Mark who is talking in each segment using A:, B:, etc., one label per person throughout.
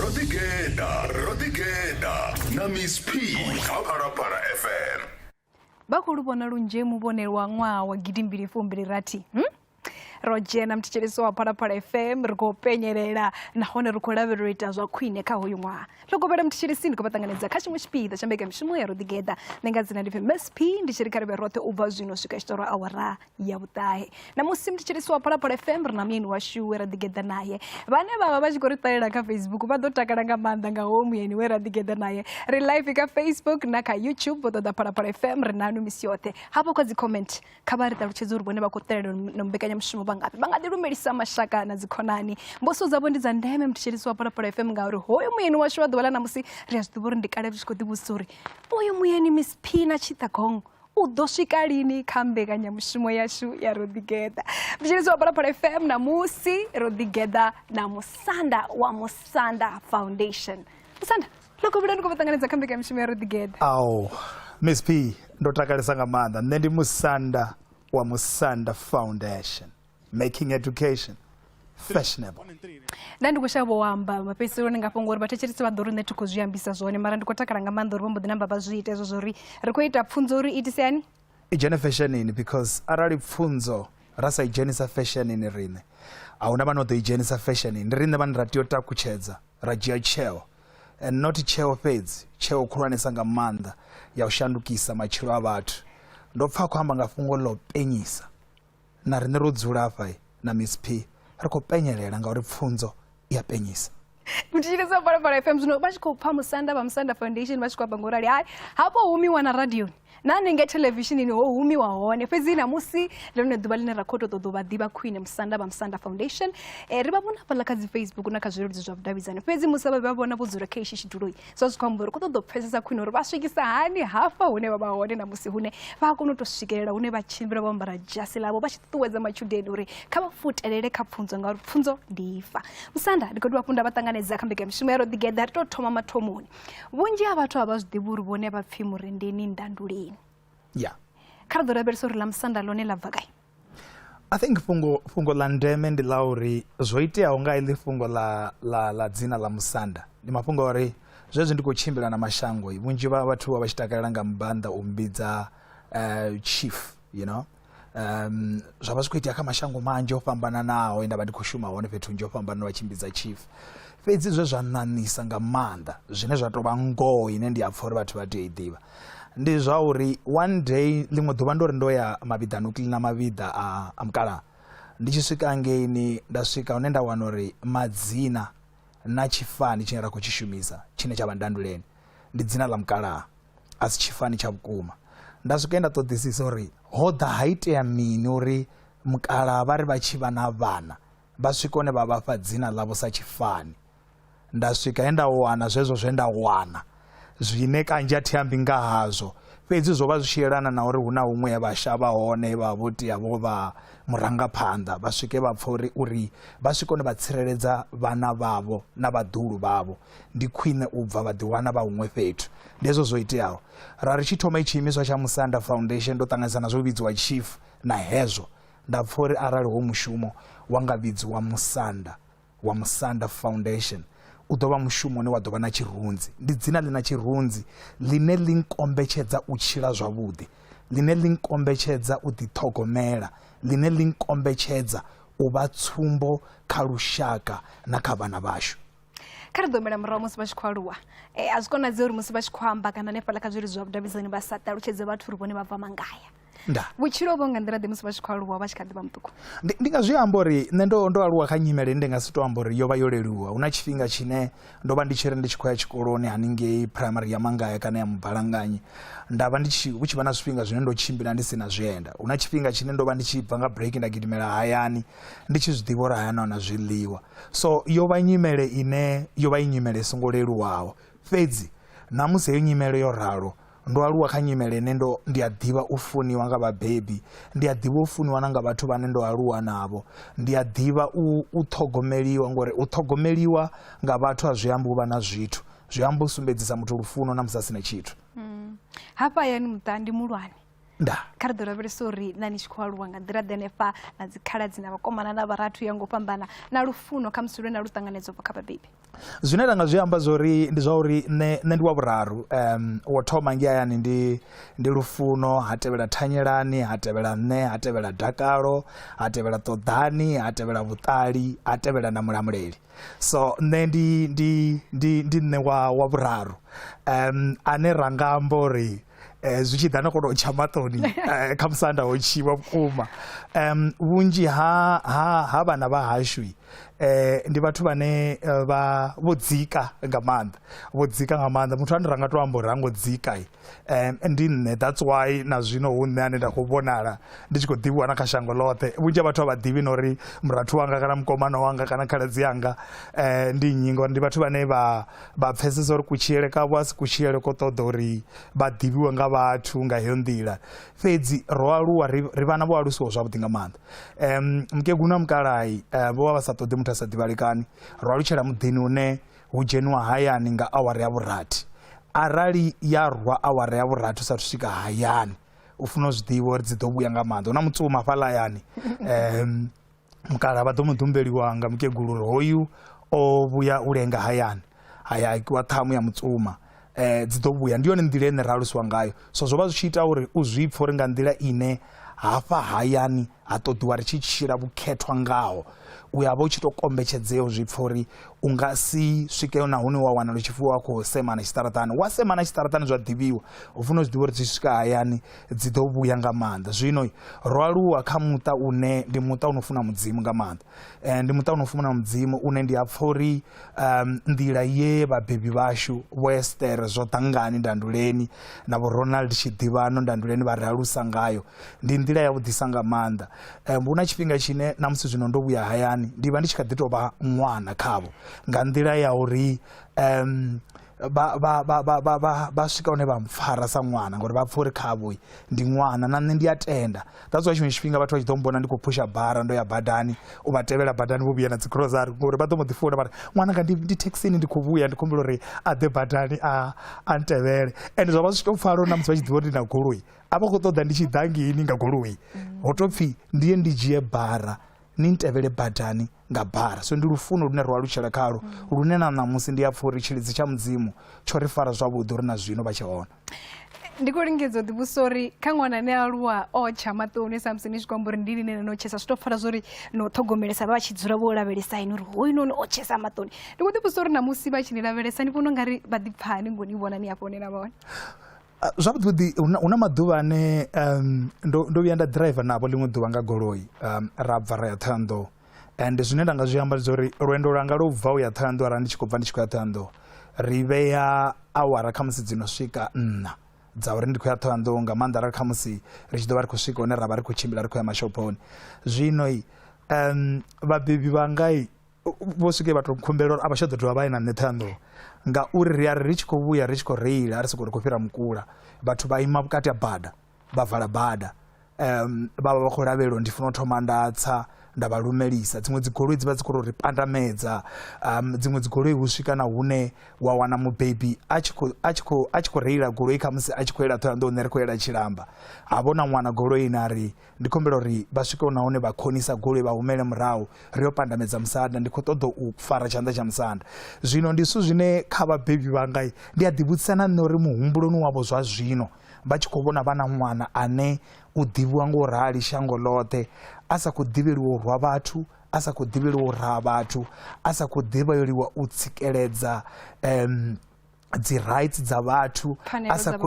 A: ro ḓigeḓa ro ḓigeḓa na miss p kha phalaphala fm vha khou lu
B: vhona lunzhe muvhonelo wa ṅwaha wa gidimbili fumbili rathi hmm? ro dzhena muthetshelesi wa phalaphala fm ri khou penyelela nahone ri khou lavhelela u ita zwa khwine kha hoyu ṅwaha ri khou vhela muthetshelesi ndi khou vha ṱanganedza kha tshiṅwe tshipiḓa tsha mbekamishumo ya ro ḓigeḓa nṋe nga dzina ndi pfi msp ndi tshi ri kha ri vhe roṱhe u bva zwino swika tshitoro awara ya vhuṱahe na musi mthetshelesi wa phalaphala fm ri na muyeni washu we ra ḓigeḓa naye vhane vha vha vha tshi khou ri ṱalela kha facebook vha ḓo takala nga maanḓa nga howo muyeni we ra ḓigeḓa naye ri live kha facebook na kha youtube vho ṱoḓa phalaphala fm ri nanu misi yoṱhe hafho kha dzi comment kha vha ri ṱalutshedze uri vhone vha khou ṱalela na mbekanyamushumo vha ngafhi vha nga ḓi lumelisa mashaka na dzikhonani mbuso dzavho ndi dza ndeme mthetshelesi wa phalaphala fm ngauri hoyo muyeni washu wa ḓuvha ḽa ṋamusi ri a zwi ḓivha uri ndi kale zwi tshi khou ḓivhusa uri uyu muyeni miss phina tshiṱagongo u ḓo swika lini kha mbekanyamushumo yashu ya ro ḓigeḓa vhitsheledzo wa phalaphala fm namusi ro ḓigeḓa na musanda wa musanda foundation musanda ḽo kovhela ni khou vha ṱanganedza kha mbekanyamushumo ya ro ḓigeḓa ao
C: miss p ndo takalesa nga maanḓa nṋe ndi musanda wa musanda foundation making education fashionable nda ndi
B: khou shavha u amba mafhedziseloni nga fhungo uri vhathetshelisi vha ḓo ri nṋe thi khou zwi ambisa zwone mara ndi khou takala nga maanḓa uri vho mbo ḓi namba vha zwi ita hezwo zwori ri khou ita pfunzo uri itisani i dzhene fashionini
C: because arali pfunzo ra sa i dzhenisa fashionini riṋe a huna vhane o ḓo i dzhenisa fashionini ndi riṋe vhane ra tea u takutshedza ra dzhia tsheo and not tsheo fhedzi tsheo khulwanesa nga maanḓa ya u shandukisa matshilo a vhathu ndo pfa khou amba nga fhungo ḽo penyisa Na riṋe ro dzula afha na Miss P ri khou penyelela ngauri pfunzo i a penyisa. U thetshelesa
B: Phalaphala FM zwino vha tshi khou pfa musanda vha Musanda Foundation vha tshi khou amba ngo rali. Hai, hafho humiwa na radioni na hanengei theḽevishinini ho humiwa hone fhedzi ṋamusi ndi lone ḓuvha ḽine ra khou tou ṱoḓa u vha ḓivha khwine musanda vha musanda foundation eh, ri vha vhona hafhaḽa kha dzi facebook na kha zwileludzi zwa vhudavhidzani fhedzi musi vha vha vhona vho dzula kha ishi tshiduloi zwa zwi khou amba uri ku ṱoḓa u pfhesesa khwine uri vha swikisa hani hafha hune vha vha hone na musi hune vha a kona u tou swikelela hune vha tshimbila vho ambara dzhasi ḽavho vha tshi ṱuṱuwedza matshudeni uri kha vha futelele kha pfunzo ngauri pfunzo ndi ifa musanda ndi khou dovha funda vha ṱanganedza kha mbekamishumo ya ro ḓigeḓa ri tou thoma mathomoni vhunzhi ha vhathu a vha zwi ḓivhi uri vhone vha pfhi murendeni ndandulini ya
C: kha ri ḓo lavhelesa
B: uri ḽa musanda ḽone ḽa bva kai I think
C: fhungo fhungo ḽa ndeme ndi ḽa uri zwo iteaho nga iḽi fhungo ḽa ḽa ḽa dzina ḽa musanda ndi mafhungo a uri zwezwi ndi khou tshimbila na mashango vhunzhi vha vhathu vha vha tshi takalela nga mbanda u mbidza uh, chief you know um zwa vha zwi khou itea kha mashango manzhi o fhambananaho nda vha ndi khou shuma hone fhethu nzhi o fhambanana vha tshimbidza chief fhedzi zwe zwa ṋaṋisa nga maanḓa zwine zwa tou vha ngoho ine ndi a pfha uri vhathu vha tea i ḓivha ndi zwa uri one day ḽiṅwe ḓuvha ndo ri ndo ya mavhiḓani u kilina mavhiḓa a, a mukalaha ndi tshi swika ngeini nda swika hune nda wana uri madzina na tshifani tshine ra khou tshi shumisa tshine tsha vha ndanduleni ndi dzina ḽa mukalaha a si tshifani tsha vhukuma nda swika nda ṱoḓisisa uri ho ḓa ha itea mini uri mukalaha vha ri vha tshi vha na vhana vha swika hune vha vhafha dzina ḽavho sa tshifani nda swika he nda wana zwezwo zwe nda wana zwine kanzhi a thi ambi nga hazwo fhedzi zwo vha zwi tshi yelana na uri hu na huṅwe he vha shavha hone he vha vha vho tea vho vha murangaphanḓa vha swike vha pfha uri uri vha swike hone vha tsireledza vhana vhavho na vhaḓulu vhavho ndi khwine u bva vha ḓiwana vha huṅwe fhethu ndi hezwo zwo iteaho ra ri tshi thoma i tshiimiswa tsha musanda foundation ndo ṱanganisa na zwo vhidziwa chief na hezwo Nda pfa uri arali ho mushumo wa nga vhidziwa Musanda wa Musanda Foundation, u ḓo vha mushumo une wa ḓo vha na tshirunzi. Ndi dzina ḽi na tshirunzi ḽine ḽi nkombetshedza u tshila zwavhuḓi, ḽine ḽi nkombetshedza u ḓiṱhogomela, ḽine ḽi nkombetshedza u vha tsumbo kha lushaka na kha vhana vhashu. kha ri ḓo humela
B: murahu musi vha tshi khou aluwa eh, a zwi konadzei uri musi vha tshi khou amba kana hanefhaḽa kha zwileludzi zwa vhudavhidzani vha sa ṱalutshedze vhathu uri vhone vha bva mangaya nda vhutshilo
C: vho nga nḓila ḓe
B: musi vha tshi khou aluwa vha tshi kha ḓi vha muṱuku ndi nga zwi amba uri
C: nṋe ndo ndo aluwa kha nyimele ndi nga si to amba uri yo vha yo leluwa hu na tshifhinga tshine ndo vha ndi tshi ri ndi tshi khou ya tshikoloni haningei primary ya mangaya kana ya mubalanganyi nda vha ndi tshi hu tshi vha na zwifhinga zwine ndo tshimbila ndi si na zwienda hu na tshifhinga tshine ndo vha ndi tshi bva nga break nda gidimela hayani ndi tshi zwi ḓivha uri hayani hona zwiḽiwa so yo vha nyimele ine yo vha i nyimele i songo leluwaho fhedzi na musi heyo nyimele yo ralo Ndo aluwa kha nyimele ine ndo ndi a ḓivha u funiwa nga vhabebi, ndi a ḓivha u funiwa na nga vhathu vhane ndo aluwa navho. Ndi a ḓivha u u ṱhogomeliwa ngori u ṱhogomeliwa nga vhathu a zwi ambi u vha na zwithu, zwi amba u sumbedzisa muthu
B: lufuno
C: na musi a si na tshithu.
B: Mm. Hafha
C: hayani muṱa ndi
B: mulwane.
C: nda kha ri ḓo lavhelesa
B: uri na ni tshi khou aluwa nga nḓila ḓenefha na dzikhaladzi na vhakomana na vharathu ya ngo fhambana na lufuno kha musi lwe na lu ṱanganedza ubva kha vhabebi zwine ra nga zwi
C: amba zwori ndi zwa uri nṋe nṋe ndi wa vhuraru um wo thoma nge hayani ndi ndi lufuno ha tevhela thanyelani ha tevhela nṋe ha tevhela dakalo ha tevhela ṱoḓani ha tevhela vhuṱali ha tevhela na mulamuleli so nṋe ndi ndi ndi ndi nṋe wa wa vhuraru um ane ra nga amba uri Eh, zwi tshi ḓa na kono u tsha maṱoni eh, kha musanda ho tshiwa vhukuma um vhunzhi ha ha ha vhana vha hashu eh ndi vhathu vhane eh, vha vho dzika nga maanḓa vho dzika nga maanḓa muthu ane ra nga to amba uri rango dzika um ndi nṋe that's why na zwino hu nṋe ane nda khou vhonala ndi tshi khou ḓivhiwa na kha shango ḽoṱhe vhunzhi ha vhathu a vha ḓivhi na uri murathu wanga kana mukomana wanga kana khaladzi yanga um ndi nnyi ngori ndi vhathu vhane vha vha pfesesa uri kutshilele kavho a si kutshilele ko ṱoḓa uri vha ḓivhiwe nga vhathu nga heyo nḓila fhedzi ro aluwa ri vhana vho alusiwa zwavhuḓi nga maanḓa um mukegulu na mukalahi eh, vho vha vha sa ṱoḓi muthu a sa ḓivhalekani ro alutshela muḓini une hu dzheniwa hayani nga awara ya vhurathi arali ya rwa awara ya vhurathi u sathu swika hayani u funa u zwi ḓivha uri dzi ḓo vhuya nga maanḓa hu na mutsuma fhaḽa hayani um mukala vha ḓo mu ḓumbeliwa nga mukegulu uri hoyu o vhuya u lenga hayani haya akiwa ṱhamu ya mutsuma eh dzi ḓo vhuya ndi yone nḓila ine ra alusiwa ngayo so zwo vha zwi tshi ita uri u zwi pfhe uri nga nḓila ine hafha hayani ha ṱoḓiwa ri tshi tshila vhukhethwa ngaho u ya vha u tshi tou kombetshedzea u zwi pfha uri u nga si swike na hune wa wana lu tshipfi wa khou semana tshiṱaraṱani wa semana tshiṱaraṱani zwa ḓivhiwa u funa u zwi ḓivha uri zwi swika hayani dzi ḓo vhuya nga maanḓa zwino ro aluwa kha muṱa une ndi muṱa u no funa mudzimu nga maanḓa um ndi muṱa u no funa mudzimu une ndi a pfha uri um nḓila ye vhabebi vhashu vho estere zwo ḓangani ndanduleni na vho ronald tshiḓivhano ndanduleni vha ri alusa ngayo ndi nḓila ya vhuḓisa nga maanḓa um hu na tshifhinga tshine na musi zwino ndo vhuya hayani ndi vha ndi tshi kha ḓi tou vha ṅwana khavho nga nḓila ya uri um vha swika hune vha mpfara sa ṅwana ngauri vha pfha uri khavhoi ndi ṅwana na nṋe ndi a tenda that's why tshiṅwe tshifhinga vhathu vha tshi ḓo mbona ndi khou phusha bara ndo ya badani u vha tevhela badani vho vhuya na dzicrosary ngori vha ḓo mbo ḓi funa vhari ṅwananga ndi thekhisini ndi khou vhuya ndi khumbela uri a ḓe badani a a ntevhele and zwa vha zwi tou pfala uri na musi vha tshi ḓivha uri ndi na goloi a vha khou ṱoḓa ndi tshi ḓa ngini nga goloi ho tou pfhi ndi ye ndi dzhie bara ni ntevhele badani nga bala so ndi lufuno lune ro alutshela khalo mm. lune na ṋamusi ndi a pfha uri tshilidzi tsha mudzimu tsho ri fara zwavhuḓi uri na zwino vha tshe hone ndi khou
B: lingedza u ḓivhusa uri kha ṅwana ane aluwa o tsha maṱoni samusi ni zwi kwamba uri ndi line no tshesa zwi tou pfala zwo ri no ṱhogomelesa vha tshi dzula vho lavhelesa ini uri hoyu noni o tshesa maṱoni ndi khou ḓivhusa uri na musi vha tshi ni lavhelesa ni vhona u nga ri vha ḓipfani ngo ni vhona ni a fhonela vhone Ah, zwavhuḓi vhuḓi
C: hu na- hu na maḓuvha ane um, ndo, ndo vhuya nda driver navho ḽiṅwe ḓuvha nga goloi um, ra bva ra ya thohoyanḓou and zwine nda nga zwi amba ndi zwa uri lwendo lwanga lwo bva u ya thohoyanḓou arali ndi tshi khou bva ndi tshi khou ya thohoyanḓou ri vhea awara khamusi dzi no swika nṋa dza uri ndi khou ya thohoyanḓou nga maanḓa arali khamusi ri tshi ḓo vha ri khou swika hune ra vha ri khou tshimbila ri khou ya mashophoni zwino i um, vhabebi vhangai vho swike vha tou khumbela uri a vha tsha ḓo dovha vha ye na nṋe ṱhanḓo ngauri ri a ri ri tshi khou vhuya ri tshi khou reila a ri sokou ri khou fhira mukula vhathu vha ima vhukati ha bada vha vala bada um vha vha vha khou lavhelelwa ndi funa u thoma nda tsa nda vha lumelisa dziṅwe dzigoloi dzi vha dzi khou ri pandamedza um dziṅwe dzigoloi hu swika na hune wa wana mubebi a tshi khou reila goloi khamusi a tshi khou yela ṱhoyandou nṋe ri khou yela tshilamba ha vhona ṅwana goloi na ri ndi khou humbela uri vha swike huna hune vha khonisa goloi vha humele murahu ri yo pandamedza musanda ndi khou ṱoḓa u fara tshanḓa tsha musanda zwino ndi zwithu zwine kha vhabebi vhanga ndi a ḓivhudzisa na nṋe uri muhumbuloni wavho zwa zwino vha tshi khou vhona vha na ṅwana ane u ḓivhiwa nga u rali shango ḽoṱhe a sa khou ḓivheliwa u rwa vhathu a sa khou ḓivheliwa u raha vhathu a sa khou ḓivheliwa u tsikeledza um dzi rights dza vhathu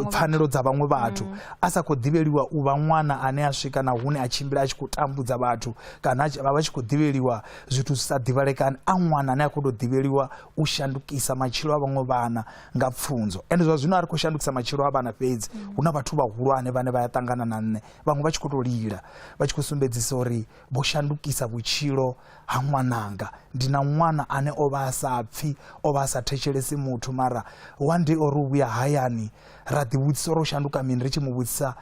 C: pfanelo dza vhaṅwe vhathu mm. a sa khou ḓivheliwa u vha ṅwana ane a swika na hune a tshimbila a tshi khou tambudza vhathu kana vha vha tshi khou ḓivheliwa zwithu zwi sa ḓivhalekani a ṅwana ane a khou tou ḓivheliwa u shandukisa matshilo a vhaṅwe vhana nga pfunzo ende zwa zwino a ri khou shandukisa matshilo a vhana fhedzi mm. hu na vhathu vhahulwane vhane vha ya ṱangana na nṋe vhaṅwe vha tshi khou tou lila vha tshi khou sumbedzisa uri vho shandukisa vhutshilo ha ṅwananga ndi na ṅwana ane o vha a sa pfhi o vha a sa thetshelesi muthu mara one day o ri u vhuya hayani ra ḓivhudzisa uri o shanduka mini ri tshi mu vhudzisa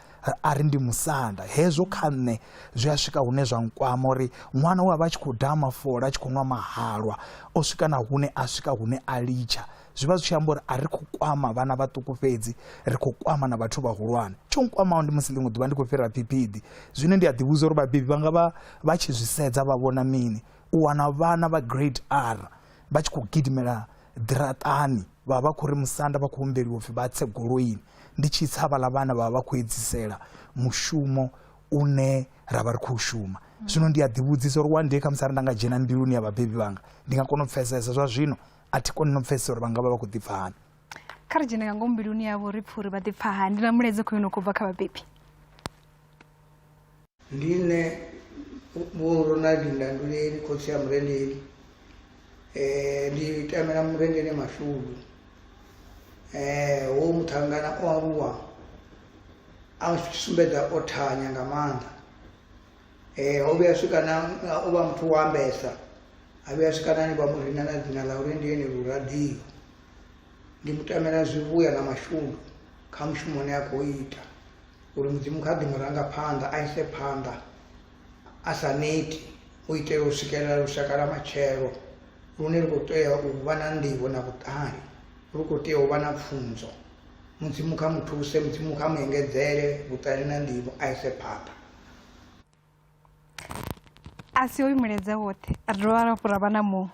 C: a ri ndi musanda hezwo kha nṋe zwi a swika hune zwa nkwama uri ṅwana we a vha a tshi khou daha mafola a tshi khou nwa mahalwa o swika na hune a swika hune a litsha zwi vha zwi tshi amba uri a ri khou kwama vhana vhaṱuku fhedzi ri khou kwama na vhathu vhahulwane tsho nkwamaho ndi musi ḽiṅwe ḓuvha ndi khou fhira phiphidi zwine ndi a ḓivhudza uri vhabebi vha nga vha vha tshi zwi sedza vha vhona mini u wana vhana vha grade r vha tshi khou gidimela ḓiraṱani vha vha khou ri musanda vha khou humbeliwa upfhi vha tse goloini ndi tshi tsa vhaḽa vhana vha vha vha khou edzisela mushumo une ra vha ri khou shuma zwino ndi a ḓivhudzisa uri one day khamusi ari nda nga dzhena mbiluni ya vhabebi vhanga ndi nga kona u pfesesa zwa zwino a thi koni no pfesesa uri vha nga vha vha khou ḓipfa hani kha ri dzhene
B: nga ngomu mbiluni yavho ri pfhe uri vha ḓipfa hani ndi na mulaedza khou yo no khou bva kha vhabebi
D: ndi nṋe vho ronaldi ndanduleli khotsi ya murendeli um ndi tamela murendele mashudu um wo muṱhangana o aluwa a sumbedza o thanya nga maanḓa Eh, ho vhuya swika na o vha muthu wa ambesa a vhuya swika nani vha mu rina na dzina ḽa uri ndi ene luradio ndi mu tamela zwivhuya na mashundu kha mushumo une a khou ita uri mudzimu kha ḓi mu ranga phanḓa a ise phanḓa a sa neti u itela u swikelela lushaka lwa matshelo lune lu khou tea u vha na nḓivho na vhuṱali lu khou tea u vha na pfunzo mudzimu kha mu thuse mudzimu kha mu engedzele vhuṱali na nḓivho a ise phanḓa
B: a si oyu milaedza woṱhe a ri dovha rafhu ra vha na muṅwe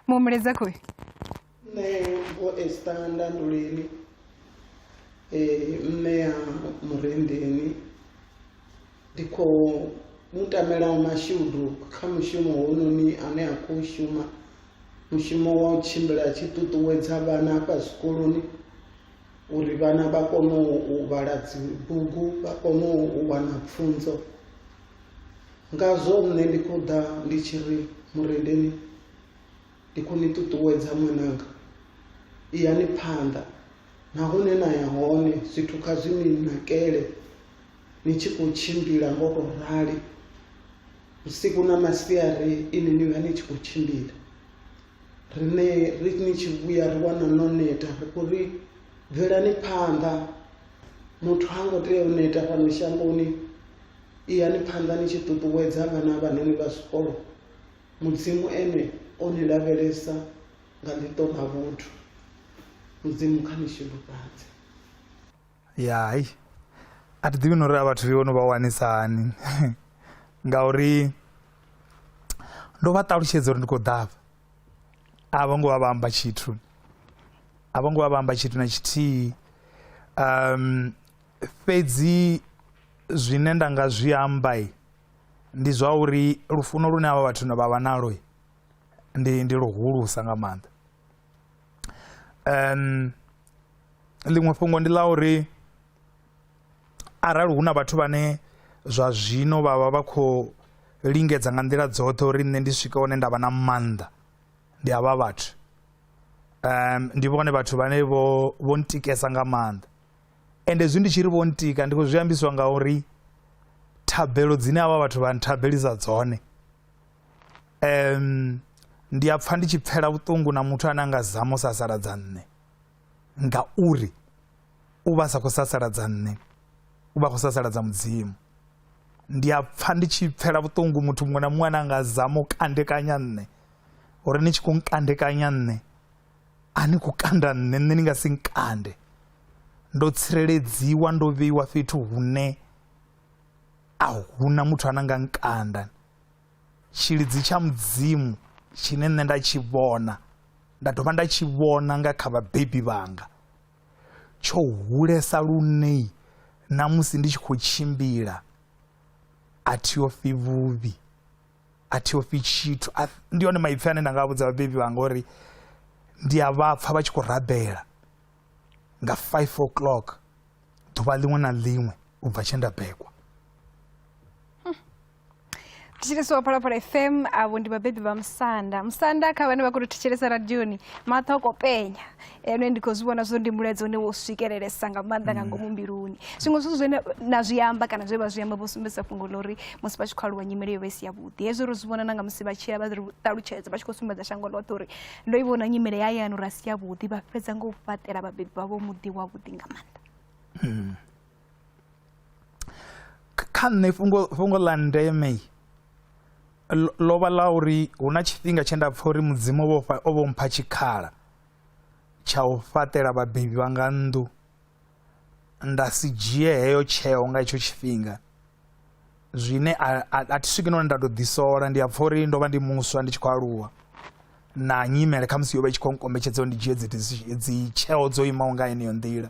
B: muṅwe milaedza khoyu nṋe
E: vho esta ndanduleni um nṋe ya murendeni ndi khou mu tamela mashudu kha mushumo hounoni ane a khou shuma mushumo wa u tshimbila tshi ṱuṱuwedza vhana afha zwikoloni uri vhana vha kone u vhala dzibugu vha kone u wana pfunzo ngazwo nṋe ndi khou ḓa ndi tshi ri murendeni ndi khou ni ṱuṱuwedza ṅwananga iyani phanḓa na hune na ya hone zwithu kha zwi ni nakele ni tshi khou tshimbila ngo tou rali vhusiku na masiari ini ni vha ni tshi khou tshimbila riṋe ri ni tshi vhuya ri wana no neta ri khou ri bvelani phanḓa muthu ha ngo tea u neta fhano shangoni iyani phanḓa ni tshi ṱuṱuwedza vhana vhanoni vha zwikolo mudzimu ene o ni lavhelesa nga ḽiṱo ḽa vhuthu mudzimu kha ni shulufhadze
C: ya hai a thi ḓivhi na uri a vhathu vho no vha wanisa hani ngauri ndo vha ṱalutshedza uri ndi khou ḓafha a vho ngo vha vha amba tshithu a vho ngo vha vha amba tshithu na tshithihi um fhedzi zwine nda nga zwi amba ndi zwa uri lufuno lune havha vhathu na vha vha nalo ndi ndi luhulusa nga maanḓa um ḽiṅwe fhungo ndi ḽa uri arali hu na vhathu vhane zwa zwino vha vha vha khou lingedza nga nḓila dzoṱhe uri nṋe ndi swike hone nda vha na maanḓa ndi havha vhathu um ndi vhone vhathu vhane vho vho ntikesa nga maanḓa ende zwi ndi tshi ri vho ntika ndi khou zwi ambiswa nga uri thabelo dzine havha vhathu vha nthabelisa dzone um ndi a pfha ndi tshi pfela vhuṱungu na muthu ane a nga zama u sasaladza nṋe ngauri u vha sa khou sasaladza nṋe u vha khou sasaladza mudzimu ndi a pfa ndi tshi pfela vhuṱungu muthu muṅwe na muṅwe ane anga zama u kandekanya nṋe uri ni tshi khou nkandekanya nṋe a ni khou kanda nṋe nṋe ni nga si nkande ndo tsireledziwa ndo vheiwa fhethu hune a huna muthu ane anga nkanda Tshilidzi tsha Mudzimu tshine nṋe nda tshi vhona nda dovha nda tshi vhona nga kha vhabebi vhanga tsho hulesa lunei na musi ndi tshi khou tshimbila a thi yo fi vhuvhi a thi yo fi tshithu ndi hone maipfi ane nda nga vhudza vhabebi vhanga uri ndi a vha pfha vha tshi khou rabela nga 5 o'clock ḓuvha ḽiṅwe na ḽiṅwe u bva tshe nda bekwa tichiri
B: so parapara fm avo ndi vabhebhi vamusanda musanda ka vane vakuri tichelesa radioni mathoko penya ene ndikozvivona zvo ndi mulaedzi une wosvikereresa nga maanḓa nga mm. ngomu mbiluni zviṅwe zwithu zwine na zwi amba kana zwe vha zwi amba vho sumbedzisa fhungo ḽa uri musi vha tshi khou aluwa nyimele yo vha i si yavhuḓi hezwi ro zwi vhona na nga musi vha tshila vha ri ṱalutshedza vha tshi khou sumbedza shango ḽoṱhe uri ndo i vhona nyimele ya yanu ra si yavhuḓi vha fhedza nga u fhaṱela vhabebi vhavho muḓi wavhuḓi nga maanḓa mm.
C: kha nṋe fhungo fhungo ḽa ndeme ḽo vha ḽa uri hu na tshifhinga tshe nda pfha uri mudzimu vho o vho mpha tshikhala tsha u fhaṱela vhabebi vha nga nnḓu nda si dzhie heyo tsheo nga hetsho tshifhinga zwine a thi swiki none nda tou ḓisola ndi a pfha uri ndo vha ndi muswa ndi tshi khou aluwa na nyimele khamusi yo vha i tshi khou nkombetshedza uri ndi dzhie dzi dzi tsheo dzo imaho nga heneyo nḓila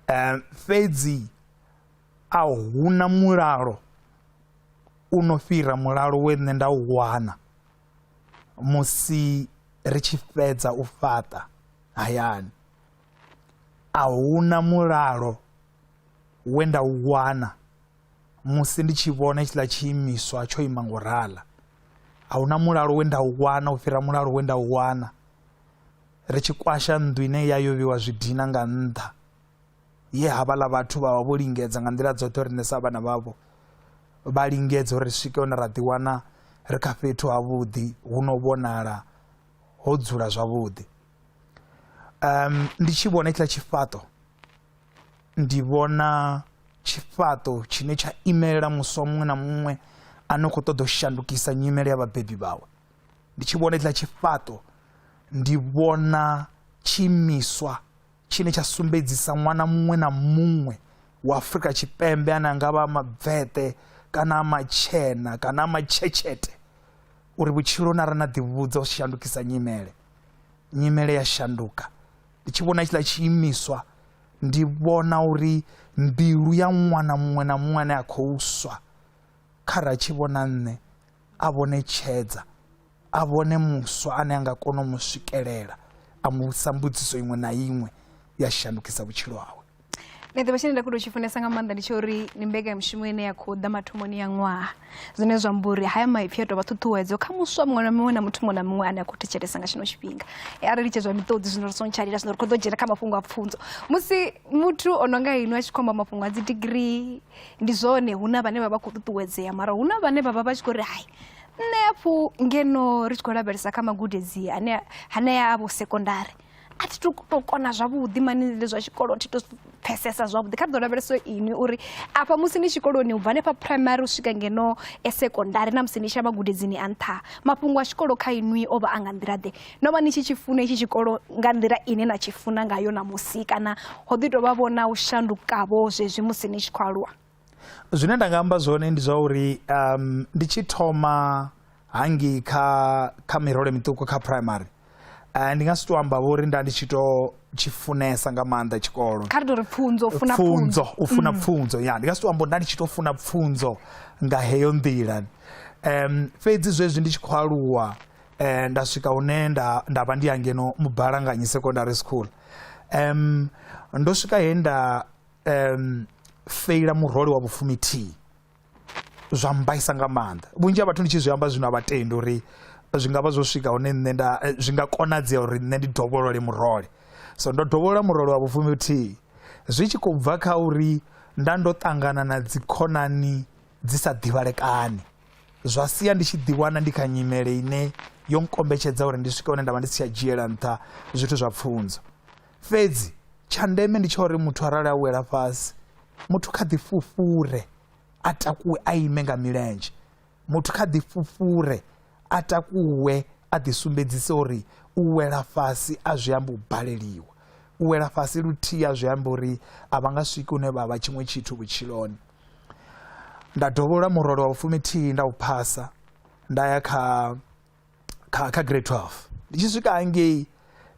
C: Um, fhedzi a huna mulalo u no fhira mulalo we nṋe nda u wana musi ri tshi fhedza u fhaṱa hayani a huna mulalo we nda u wana musi ndi tshi vhona hetshiḽa tshiimiswa tsho ima ngo rala a huna mulalo we nda u wana u fhira mulalo we nda u wana ri tshi kwasha nnḓu ine ya yo vhiwa zwidina nga nnḓa ye havhaḽa vhathu vha vha vho lingedza nga nḓila dzoṱhe uri nṋe sa vhana vhavho vha lingedze uri ri swike hone ra ḓiwana ri kha fhethu havhuḓi hu no vhonala ho dzula zwavhuḓi um ndi tshi vhona itshiḽa tshifhaṱo ndi vhona tshifhaṱo tshine tsha imelela muswa muṅwe na muṅwe a no khou ṱoḓa u shandukisa nyimele ya vhabebi vhawe ndi tshi vhona iḽa tshifhaṱo ndi vhona tshiimiswa tshine tsha sumbedzisa ṅwana muṅwe na muṅwe wa afrika tshipembe ane a nga vha mabvete kana a matshena kana a matshetshete uri vhutshilo na ra na ḓivhudza u shandukisa nyimele nyimele ya shanduka ndi tshi vhona tshiḽa tshiimiswa ndi vhona uri mbilu ya ṅwana muṅwe na muṅwe ane a khou swa kha ra tshi vhona nṋe a vhone tshedza a vhone muswa ane a nga kona u mu swikelela a mu vhudzisa mbudziso iṅwe na iṅwe ya shandukisa vhutshilo hawe nṋe ḓivha tshine nda
B: khou tou tshi funesa nga maanḓa ndi tsha uri ndi mbekanyamushumo ine ya khou ḓa mathomoni ya ṅwaha zwine zwa amba uri haya maipfi a tou vha ṱhuṱhuwedzo kha muswa muṅwe na muṅwe na muthu muṅwe na muṅwe ane a khou thetshelesa nga tshino tshifhinga e arali tshe zwa miṱodzi zwino ri sontshalila zwino ri khou ḓo dzhena kha mafhungo a pfunzo musi muthu o no nga ino a tshi khou amba mafhungo a dzi digirii ndi zwone hu na vhane vha vha khou ṱuṱuwedzea mara hu na vhane vha vha vha tshi khou ri hai nṋe hafhu ngeno ri tshi khou lavhelesa kha magudedzi ane hanea a vho sekondari a thi to to kona zwavhuḓi mani le zwa tshikolo thi to pfesesa zwavhuḓi kha ḓo lavhelesa ini uri afha musi ni tshikoloni ubva hanefha primary u swika ngeno e sekondari na musi ni tshi ya magudedzini a nṱha mafhungo a tshikolo kha inwi o vha a nga nḓila ḓe no vha ni tshi tshi funa itshi tshikolo nga nḓila ine na tshi funa ngayo ṋamusi kana ho ḓi tou vha vho na u shandukavho zwezwi musi ni tshi khou aluwa zwine nda nga
C: amba zwone ndi zwa uri um, ndi tshi thoma hangi kha kha mirole miṱuku kha primary uh, ndi nga si to amba vhori nda ndi tshi to tshi funesa nga maanḓa tshikolo kha ri tori pfunzo funa
B: pfunzo u funa
C: mm. pfunzo ya ndi nga si to amba nda ndi tshi to funa pfunzo nga heyo nḓila um fhedzi zwezwi ndi tshi khou aluwa eh, nda swika hune nda, nda vha ndi ya ngeno mubalanganyi secondary school um, ndo swika he nda um, feila murole wa vhufumithihi zwa mbaisa nga maanḓa vhunzhi ha vhathu ndi tshi zwi amba zwino a vhatendi uri zwi nga vha zwo swika hune nṋe nda eh, zwi nga konadzea uri nṋe ndi dovholole murole so ndo dovholola murole wa vhufumithihi zwi tshi khou bva kha uri nda ndo ṱangana na dzikhonani dzi sa ḓivhalekani zwa sia ndi tshi ḓiwana ndi kha nyimele ine yo nkombetshedza uri ndi swike hune nda vha ndi si tsha dzhiela nṱha zwithu zwa pfunzo fhedzi tsha ndeme ndi tsha uri muthu arali a wela fhasi muthu kha ḓi fufhure a takuwe a ime nga milenzhe muthu kha ḓi fufhure a takuwe a ḓi sumbedzise uri u wela fhasi a zwi amba u baleliwa u wela fhasi luthihi a zwi amba uri a vha nga swiki hune vha vha tshiṅwe tshithu vhutshiloni nda dovholola murole wa vhufumithihi nda u phasa nda ya kha kha kha grade 12 ndi tshi swika hangei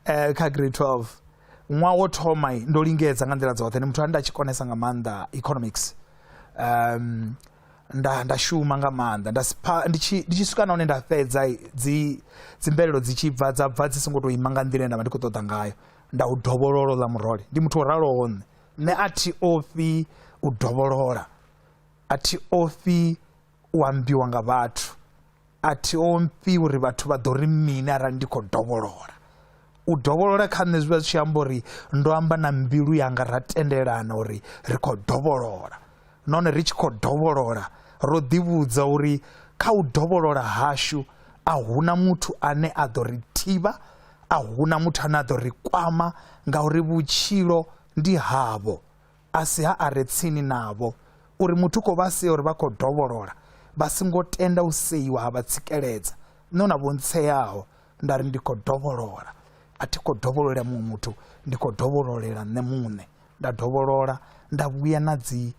C: eh, kha grade 12 ṅwaha wo thoma ndo lingedza nga nḓila dzoṱhe ndi muthu ane nda tshi konesa nga maanḓa economics um nda nda shuma nga maanḓa nda sipha ndi tshi ndi tshi swika na hone nda fhedza dzi dzi mvelelo dzi tshi bva dza bva dzi songo to ima nga nḓila ine nda vha ndi khou ṱoḓa ngayo nda u dovhololo ḽa murole ndi muthu o raloho nṋe Nṋe a thi ofhi u dovholola, a thi ofhi u ambiwa nga vhathu, a thi ofhi uri vhathu vha ḓo ri mini arali ndi khou dovholola. U dovholola kha nṋe zwi vha zwi tshi amba uri ndo amba na mbilu yanga ra tendelana uri ri khou dovholola nahone ri tshi khou dovholola ro ḓivhudza uri kha u dovholola hashu a huna muthu ane a ḓo ri thivha a huna muthu ane a ḓo ri kwama ngauri vhutshilo ndi havho a si ha a re tsini navho uri muthu u khou vha sea uri vha khou dovholola vha songo tenda u seiwa ha vha tsikeledza no na vhontseaho nda ri ndi khou dovholola a thi khou dovhololela muṅwe muthu ndi khou dovhololela nṋe muṋe nda dovholola nda vhuya na dzi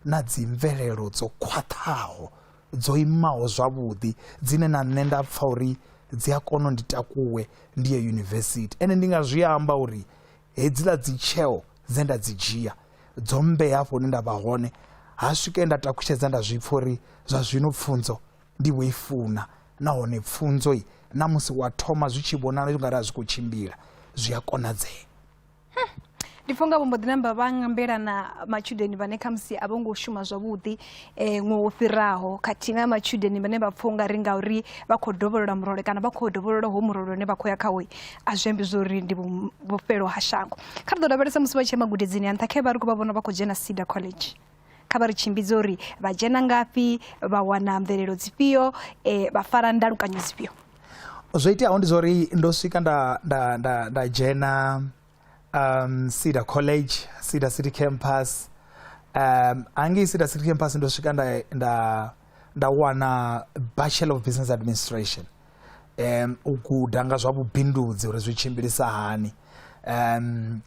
C: na dzi mvelelo dzo khwaṱhaho dzo imaho zwavhuḓi dzine na nṋe nda pfha uri dzi a kona u ndi takuwe ndi ye yunivesithi ende ndi nga zwi amba uri hedziḽa dzi tsheo dze nda dzi dzhia dzo mmbea hafho hune nda vha hone ha swike nda takutshedza nda zwi pfha uri zwa zwino pfunzo ndi vho i funa nahone pfunzo i na musi wa thoma zwi tshi vhonala u nga ri a zwi khou tshimbila zwi a konadzea
B: ndi pfha unga vho mbo ḓi namba vha ngambela na matshudeni vhane khamusi a vho ngo shuma zwavhuḓi um ṅwe wo fhiraho khathihi na matshudeni vhane vha pfha unga ri ngauri vha khou dovholola murole kana vha khou dovholola ho murole une vha khou ya khawo a zwi ambi zwori ndi vhufhelo ha shango kha ri ḓo lavhelesa musi vha tshi ya magudedzini a nṱha khe vha ri khou vha vhona vha khou dzhena cedar college kha vha ri tshimbidze uri vha dzhena ngafhi vha wana mvelelo dzifhio eh, vha fara ndalukanyo dzifhio zwo iteaho
C: ndi zwauri ndo swika nda, nda, nda, nda dzhena um, cedar college cedar city campus um, hangei cedar city campus ndo swika nda, nda, nda wana bachelor of business administration um, u guda nga zwa vhubindudzi uri zwi tshimbilisa hani um,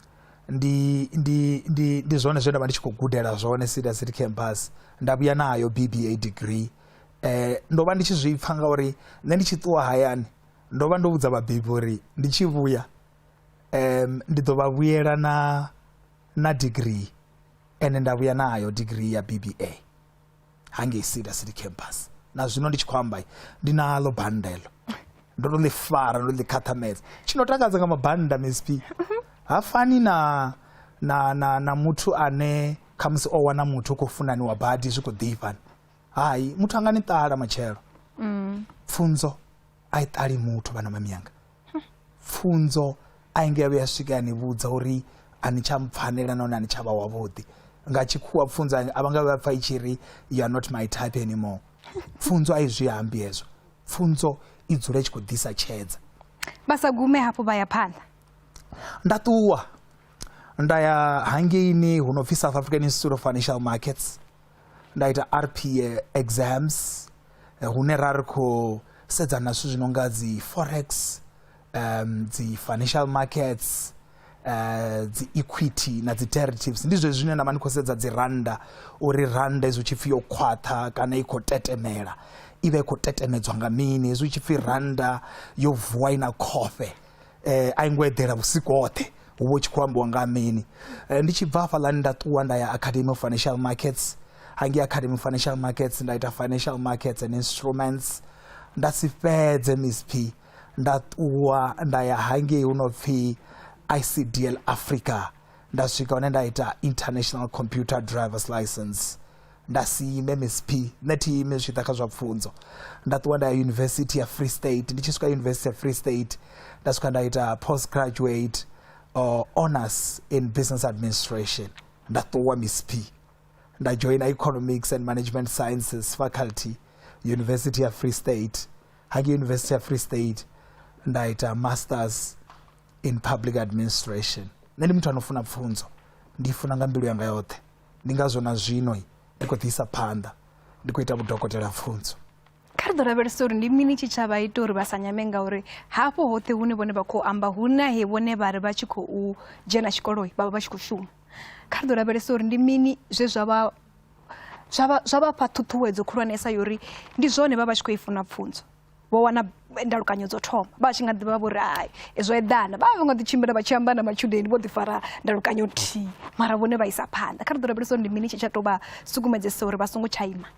C: ndi ndi ndi ndi zwone zwe nda vha ndi tshi khou gudela zwone sida city campus nda vhuya nayo bba degree um ndo vha ndi tshi zwi pfha ngauri nṋe ndi tshi ṱuwa hayani ndo vha ndo vhudza vhabebi uri ndi tshi vhuya um ndi ḓo vha vhuyela na na degree ende nda vhuya nayo degree ya bba hangei cedar city campus na zwino ndi tshi khou amba ndi nalo bannda elo ndo to ḽi fara ndo ḽi khaṱhamedza tshi no takadza nga mabannda msp ha fani na na na na muthu ane khamusi o wana muthu khou funaniwa badi zwi khou ḓifhani hai muthu anga ni ṱala matshelo pfunzo a i ṱali muthu vhana mamiyanga pfunzo a i nga vhuya a swika a ni vhudza uri a ni tsha mpfanela nahone a ni tsha vha wavhuḓi nga tshikhuwa pfunzo a vha nga vha pfa i tshi ri you are not my type anymore pfunzo a i zwi ambi hezwo pfunzo i dzula i tshi khou ḓisa tshedza vha sa gume
B: hafhu vha ya phanḓa nda
C: ṱuwa nda ya hangeini hu no pfi south african institute of financial markets nda ita rp exams eh, hune ra ri khou sedzana na zwithu zwi no nga dzi forex um dzi financial markets uh dzi equity na dzi derivatives ndi zwezwi zwine nda vha ndi khou sedza dzi randa uri randa hezwi tshi pfhi yo khwaṱha kana i khou tetemela i vha i khou tetemedzwa nga mini hezwi tshi pfhi randa yo vuwa i na khofhe eh, a i ngo eḓela vhusiku hoṱhe hu vho tshi khou ambiwa nga mini eh, ndi tshi bva hafhaḽani nda ṱuwa nda ya academy of financial markets hangei academy of financial markets nda ita financial markets and instruments nda si fhedze msp nda ṱuwa nda ya hangei hu no pfhi icdl africa nda swika hone nda ita international computer drivers license nda si ime msp nṋe thi ime zwi tshi ḓa kha zwa pfunzo nda ṱuwa nda ya yunivesithi ya free state ndi tshi swika yunivesithi ya free state nda swika nda ita post graduate uh, honors in business administration nda ṱuwa msp nda joina economics and management sciences faculty yunivesithi ya free state hange yunivesithi ya free state nda ita masters in public administration nṋe ndi muthu anofuna pfunzo ndi funa nga mbilu yanga yoṱhe ndi ngazwo na zwino ndi khou ḓiisa phanḓa ndi khou ita vhudokotela pfunzo kha ri ḓo lavhelesa
B: uri ndi mini tshitshavha ita uri vha sa nyame ngauri hafho hoṱhe hune vhone vha khou amba hu na he vhone vha ri vha tshi khou dzhena tshikolo vha vha vha tshi khou shuma kha ri ḓo lavhelesa uri ndi mini zwe zwa vha zwa vha fha ṱhuṱhuwedzo khulwanesa yori ndi zwone vha vha tshi khou i funa pfunzo vho wana ndalukanyo dzo thoma vha tshi nga ḓi vha vho ri hai zwo eḓana vha vha vho nga ḓi tshimbila vha tshi amba na matshudeni vho ḓi fara ndalukanyo nthihi mara vhone vha isa phanḓa kha ri ḓo rabelisa uri ndi mini tshi tsha tou vha sukumedzesa uri vha songo tsha ima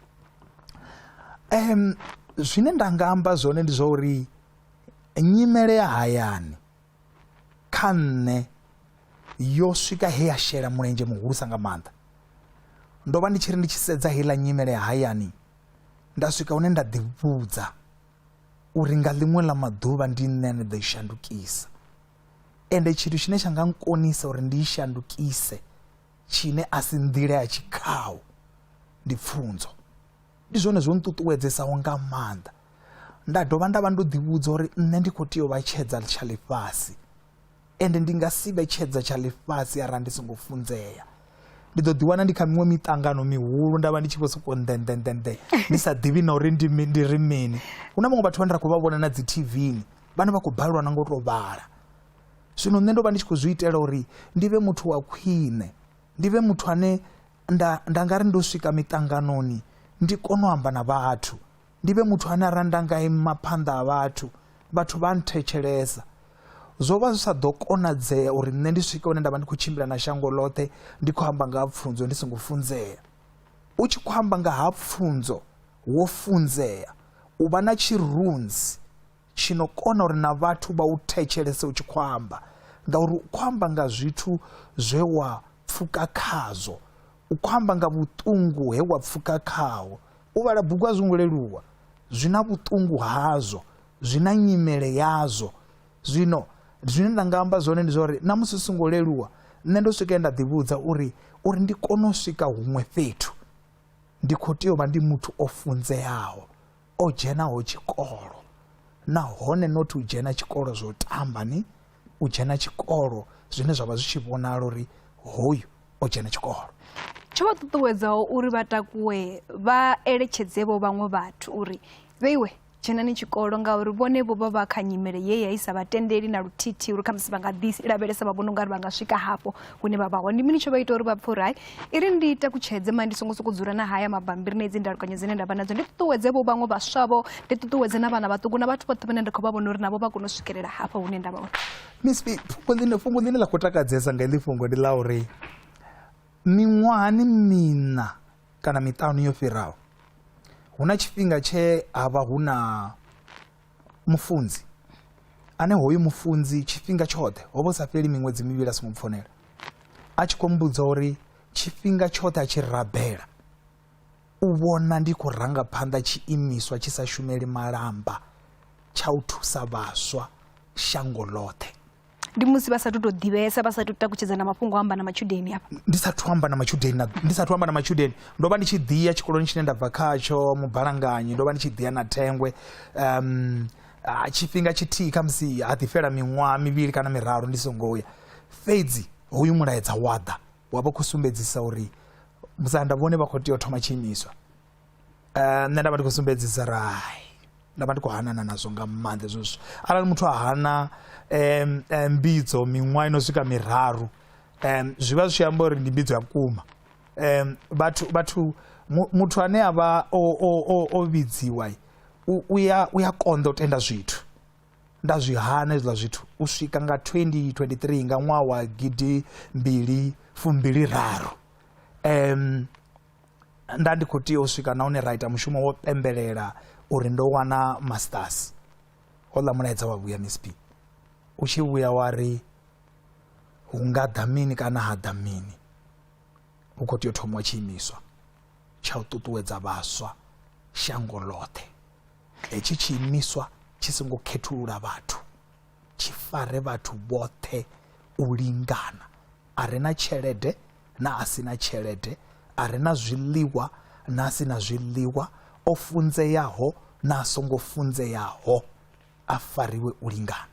B: um
C: zwine nda nga amba zwone ndi zwa uri nyimele ya hayani kha nṋe yo swika he ya shela mulenzhe muhulusa nga maanḓa ndo vha ndi tshi ri ndi tshi sedza heiḽa nyimele ya hayani nda swika hune nda ḓivhudza uri nga ḽiṅwe ḽa maḓuvha ndi nṋe ane ḓo i shandukisa ende tshithu tshine tsha nga nkonisa uri ndi i shandukise tshine a si nḓila ya tshikhaho ndi pfunzo ndi zwone zwo nṱuṱuwedzesaho nga maanḓa nda dovha nda vha ndo ḓivhudza uri nṋe ndi khou tea u vha tshedza tsha ḽifhasi ende ndi nga si vhe tshedza tsha ḽifhasi arali ndi songo funzea ndi ḓo ḓiwana ndi kha miṅwe miṱangano mihulu nda vha ndi tshi vho sokou nḓenḓenḓenḓe ndi sa ḓivhi na uri ndi ri mini hu na vhaṅwe vhathu vhane ra khou vha vhona na dzi tvni vhane vha khou balelwa na ngo tou vhala zwino nṋe ndo vha ndi tshi khou zwi itela uri ndi vhe muthu wa khwine ndi vhe muthu ane nda nda nga ri ndo swika miṱanganoni ndi kone u amba na vhathu ndi vhe muthu ane a ra nda nga ima phanḓa ha vhathu vhathu vha nthetshelesa zwo vha zwi sa ḓo konadzea uri nṋe ndi swike hune nda vha ndi khou tshimbila na shango ḽoṱhe ndi khou amba nga ha pfunzo ndi songo funzea u tshi khou amba nga ha pfunzo wo funzea u vha na tshirunzi tshi no kona uri na vhathu vha u thetshelese u tshi khou amba ngauri u khou amba nga zwithu zwe wa pfuka khazwo u khou amba nga vhuṱungu he wa pfuka khaho u vhala bugu a zwi ngo leluwa zwi na vhuṱungu hazwo zwi na nyimele yazwo zwino zwine nda nga amba zwone ndi zwa uri na musi songo leluwa nṋe ndo swika nda ḓivhudza uri uri ndi kone u swika huṅwe fhethu ndi khou tea u vha ndi muthu o funzeaho o dzhenaho tshikolo nahone not u dzhena tshikolo zwo tamba ni u dzhena tshikolo zwine zwa vha zwi tshi vhonala uri hoyu o dzhena tshikolo tsho vha
B: ṱuṱuwedzaho uri vha takuwe vha eletshedze vho vhaṅwe vhathu uri vheiwe dzhenani tshikolo ngauri vhone vho vha vha kha nyimele ye ya i sa vha tendeli na luthithi uri khamusi vha nga ḓi lavhelesa vha vhona ungari vha nga swika hafho hune vha vha hone ndi mini tsho vha ita uri vha pfhe uri hai i ri ndi takutshedze ma ndi songo sokou dzula na haya mabambiri na idzi ndalukanyo dzine nda vha nadzo ndi ṱuṱuwedze vho vhaṅwe vhaswavho ndi ṱuṱuwedze na vhana vhaṱuku na vhathu vhoṱhe vhane nda khou vha vhona uri navho vha kone u swikelela hafha hune nda vha hone miss B, fhungo
C: ḽine fhungo ḽine ḽa khou takadzesa nga iḽi fhungo ndi ḽa uri miṅwahani miṋa kana miṱanu yo fhiraho hu na tshifhinga tshe ha vha hu na Mufunzi, ane hoyu mufunzi tshifhinga tshoṱhe ho vha sa fheli miṅwedzi mivhili a songo mpfonela a tshi khou mbudza uri tshifhinga tshoṱhe a tshi rabela u vhona ndi khou ranga phanḓa tshiimiswa tshi sa shumeli malamba tsha u thusa vhaswa shango ḽoṱhe ndi musi vha
B: sathu tou ḓivhesa vha sathu takutshedza na mafhungo amba na matshudeni afha ndi sathu amba na
C: matshudeni na ndi sathu amba na matshudeni ndo vha ndi tshi ḓiya tshikoloni tshine nda bva khatsho mubalanganyi ndo vha ndi tshi ḓiya na thengwe um tshifhinga tshithihi kha musi ha ḓi fhela miṅwaha mivhili kana miraru ndi songo ya fhedzi hoyu mulaedza wa ḓa wa vha khou sumbedzisa uri musanda vhone vha khou tea u thoma tshiimiswa Eh, nṋe nda vha ndi khou sumbedzisa rai nda vha ndi khou hanana nazwo nga maanḓa hezwo zwithu arali muthu a hana um mbidzo miṅwaha ino swika miraru um zwi vha zwi tshi amba uri ndi mbidzo ya vhukuma um vhathu vhathu muthu ane a vha o vhidziwa u ya konḓa u tenda zwithu nda zwi hana hezwiḽa zwithu u swika nga 2023 nga ṅwaha wa gidi mbili fumbili raru um Nda ndi khou tea u swika nahone ra ita mushumo wo pembelela uri ndo wana masters hola mulaedza wa vhuya misp u tshi vhuya wa ri hu nga ḓa mini kana ha ḓa mini hu khou tea u thomiwa tshiimiswa tsha u ṱuṱuwedza vhaswa shango ḽoṱhe hetshi tshiimiswa tshi songo khethulula vhathu tshi fare vhathu vhoṱhe u lingana a re na tshelede na a si na tshelede a re na zwiḽiwa na a si na zwiḽiwa o funzeaho na a songo funzeaho a fariwe u lingana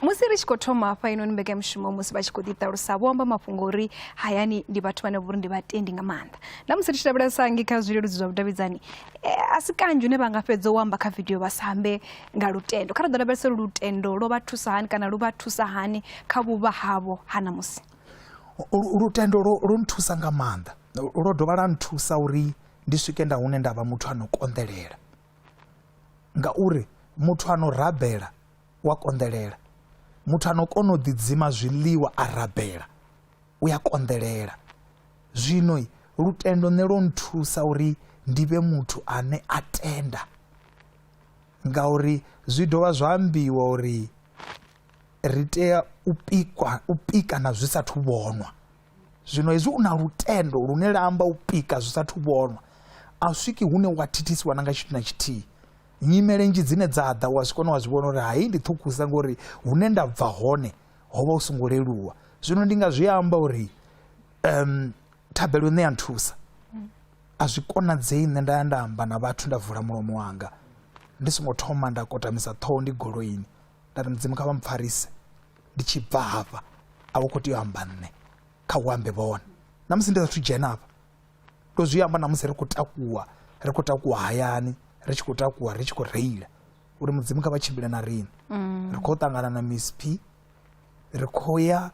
B: musi ri tshi khou thoma hafha inoni mbekanyamushumo musi vha tshi khou ḓiṱalusa vho amba mafhungo uri hayani ndi vhathu vhane vhori ndi vhatendi nga maanḓa na musi ri tshi lavhelesa ngi kha zwileludzi zwa vhudavhidzani eh, a si kanzhi une vha nga fhedza u amba kha vidio vha sa ambe nga lutendo. Kha ri ḓo lavhelesa uri lutendo lwo vha thusa hani kana lu vha thusa hani kha vhuvha havho ha ṋamusi.
C: Lutendo lwo nthusa nga maanḓa, lwo dovha lwa nthusa uri ndi swike nda hune nda vha muthu a no konḓelela ngauri muthu a no rabela wa konḓelela muthu a no kona u ḓidzima zwiḽiwa a rabela u ya konḓelela zwino lutendo nṋe lwo nthusa uri ndi vhe muthu ane a tenda Ngauri zwi dovha zwa ambiwa uri ri tea u pikwa u pika na zwi sathu vhonwa zwino hezwi u na lutendo lune la amba u pika zwi sathu vhonwa a swiki hune wa thithisiwa na nga tshithu na tshithihi nyimele nzhi dzine dza ḓa wa zwi kona wa zwi vhona uri hai ndi ṱhukhusa ngori hune nda bva hone ho vha u songo leluwa zwino ndi nga zwi amba uri um thabelo ine ya nthusa a zwi konadzei nṋe nda ya nda amba na vhathu nda vula mulomo wanga ndi songo thoma nda kotamisa ṱhoho ndi goloini nda ri mudzimu kha vha mpfarise ndi tshi bva hafha a vho khou tea u amba nṋe kha u ambe vhone na musi ndi sathu dzhena hafha ndo zwi amba na musi ri khou takuwa ri khou takuwa hayani ri tshi khou takuwa ri tshi khou reila uri mudzimu kha vha tshimbile na riṋe mm. ri khou ṱangana na miss p ri khou ya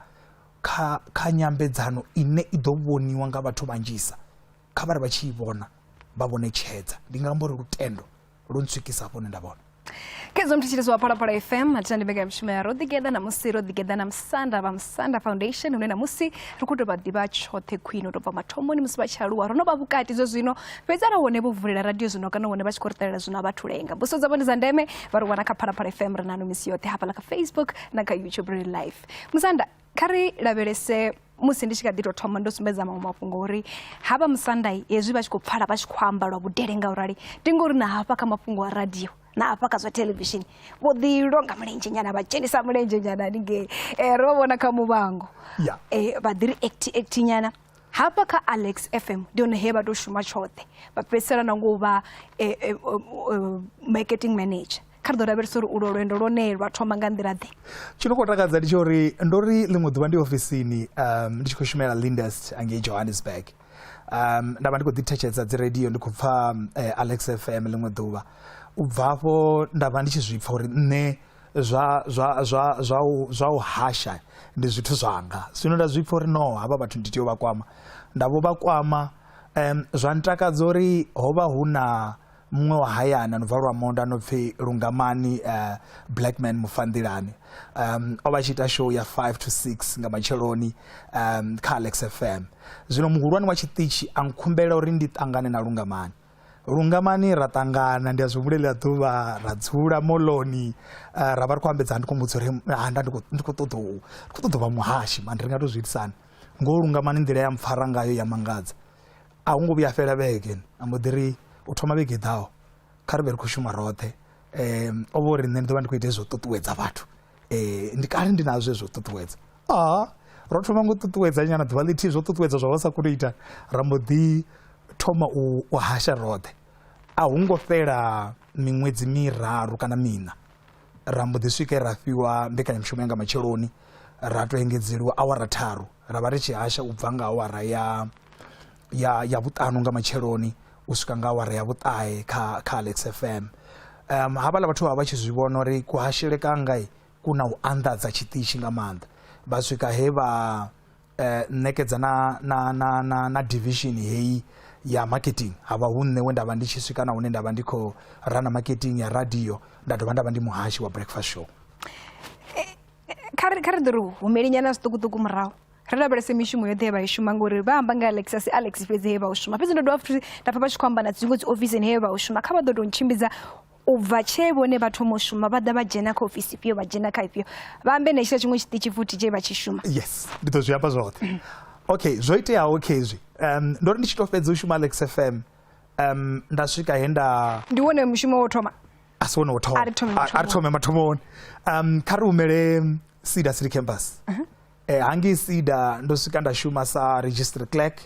C: kha kha nyambedzano ine i ḓo vhoniwa nga vhathu vhanzhisa kha vha ri vha tshi i vhona vha vhone tshedza ndi nga amba uri lutendo lu ntswikisa hafho hune nda vhona kedzo mthetshelezi
B: wa phalaphala fm athina ndi mbekanyamushumo ya ro ḓigeḓa namusi ro ḓigeḓa na musanda vha musanda foundation hune namusi ri khou tou vha ḓivha tshoṱhe khwine u tou bva mathomoni musi vha tshi aluwa ro no vha vhukati zwe zwino fhedzi ara hone vho vulela radio zwino kana hone vha tshi khou ri ṱalela zwino a vha thulenga mbuso dzavho ndi dza ndeme vha ri wana kha phalaphala fm ri nano misi yoṱhe hafhaḽa kha facebook na kha youtube ri life musanda kha ri lavhelese musi ndi tshi kha ḓi tou thoma ndo sumbedza maṅwe mafhungo uri ha vha musandai hezwi vha tshi khou pfala vha tshi khou amba lwa vhudele nga u rali ndi ngori na hafha kha mafhungo a radio na hafha kha zwa thelevishini vho ḓi longa mulenzhe nyana vha dzhenisa mulenzhe nyana haningei um ro vha vhona kha muvhango um vha ḓi ri act act nyana hafha kha alex fm ndi hone he vha tou shuma tshoṱhe vha fhedzisela na ngo vha eh, eh, eh, marketing manager kha ri ḓo lavhelesa uri ulo lwendo lwone lwa thoma nga nḓila ḓe tshi no khou takadza ndi
C: tsha uri ndo ri ḽiṅwe ḓuvha ndi ofisini um ndi tshi khou shumela lindest angei johannesburg um nda vha ndi khou ḓithetshedza dzi radio ndi khou pfa um, eh, alex fm ḽiṅwe ḓuvha u bva afho nda vha ndi tshi zwi pfa uri nṋe zwa zwa zwa zwa u zwa u hasha ndi zwithu zwanga zwino nda zwi pfha uri no havha vhathu ndi tea u vha kwama nda vho vha kwama um, zwa ntakadza uri ho vha hu na muṅwe wa hayana no bva lwa monda no pfi lungamani uh, eh, blackman mufanḓilani um, o vha tshi ita show ya 5 to 6 nga matsheloni um, kha alex fm zwino muhulwane wa tshiṱitshi a nkhumbela uri ndi ṱangane na lungamani lungamani ra ṱangana ndi a zwi humbulela ḓuvha ra dzula moloni eh, ra vha ri khou ambedza ndi khou mudza uri handa ndi khou ṱoḓa u ndi khou ṱoḓa vha muhashi mani ri nga to zwi itisani ngo lungamani nḓila ya mpfara ngayo ya mangadza a hu ngo vhuya fhela vhege a mbo ḓi ri u thoma vhege ḓaho kha ri vhe ri khou shuma roṱhe um o vha uri nṋe ndi ḓo vha ndi khou ita hezwo ṱuṱuwedza vhathu eh, ndi kale ndi nazwo zwo ṱuṱuwedza a ro thoma ngo ṱuṱuwedza nyana ḓuvha ḽithihi zwo ṱuṱuwedza zwa vha sa koni u ita ra mbo ḓi thoma u hasha roṱhe a hu ngo fhela miṅwedzi miraru kana miṋa ra mbo ḓi swike ra fhiwa mbekanyamushumo ya nga matsheloni ra to engedzeliwa awara tharu ra vha ri tshi hasha u bva nga awara ya ya ya vhuṱanu nga matsheloni u swika nga awara ya vhuṱahe kha kha Alex FM um havhala vhathu vha vha tshi zwi vhona uri kuhashele kanga ku na u anḓadza tshiṱitshi nga maanḓa vha swika he vha eh, ṋekedza na, na, na, na, na division heyi ya marketing havha hu nṋe we nda vha ndi tshi swika na hune nda vha ndi khou rana marketing ya radio nda dovha nda vha ndi muhashi wa breakfast show
B: kha ri ḓo ri humelinyana zwiṱukuṱuku murahu ri lavhelese mishumo yoṱhe ye vha i shuma ngori vha amba nga alex asi alex fhedzi he vha u shuma fhedzi ndo dovha futhi nda pfa vha tshi khou amba na dziṅwe dzi ofisini he vha u shuma kha vha ḓo tou ntshimbidza u bva tshee vhone vha thoma u shuma vha ḓa vha dzhena kha ofisi ifhio vha dzhena kha ifhio vha ambe na tshila tshiṅwe tshiṱitshi futhi tshee vha tshi shuma yes ndi ḓo zwi amba
C: zwoṱhe mm. okay zwo iteaho khezwi um ndo ri ndi tshi tou fhedza u shuma alex f m um nda swika he nda ndi wone mushumo wo
B: thoma a si wone wo thoma
C: a ri thome mathomoni um kha ri humele sida city campus uh-huh. E, hangei sida ndo swika nda shuma sa registry clerk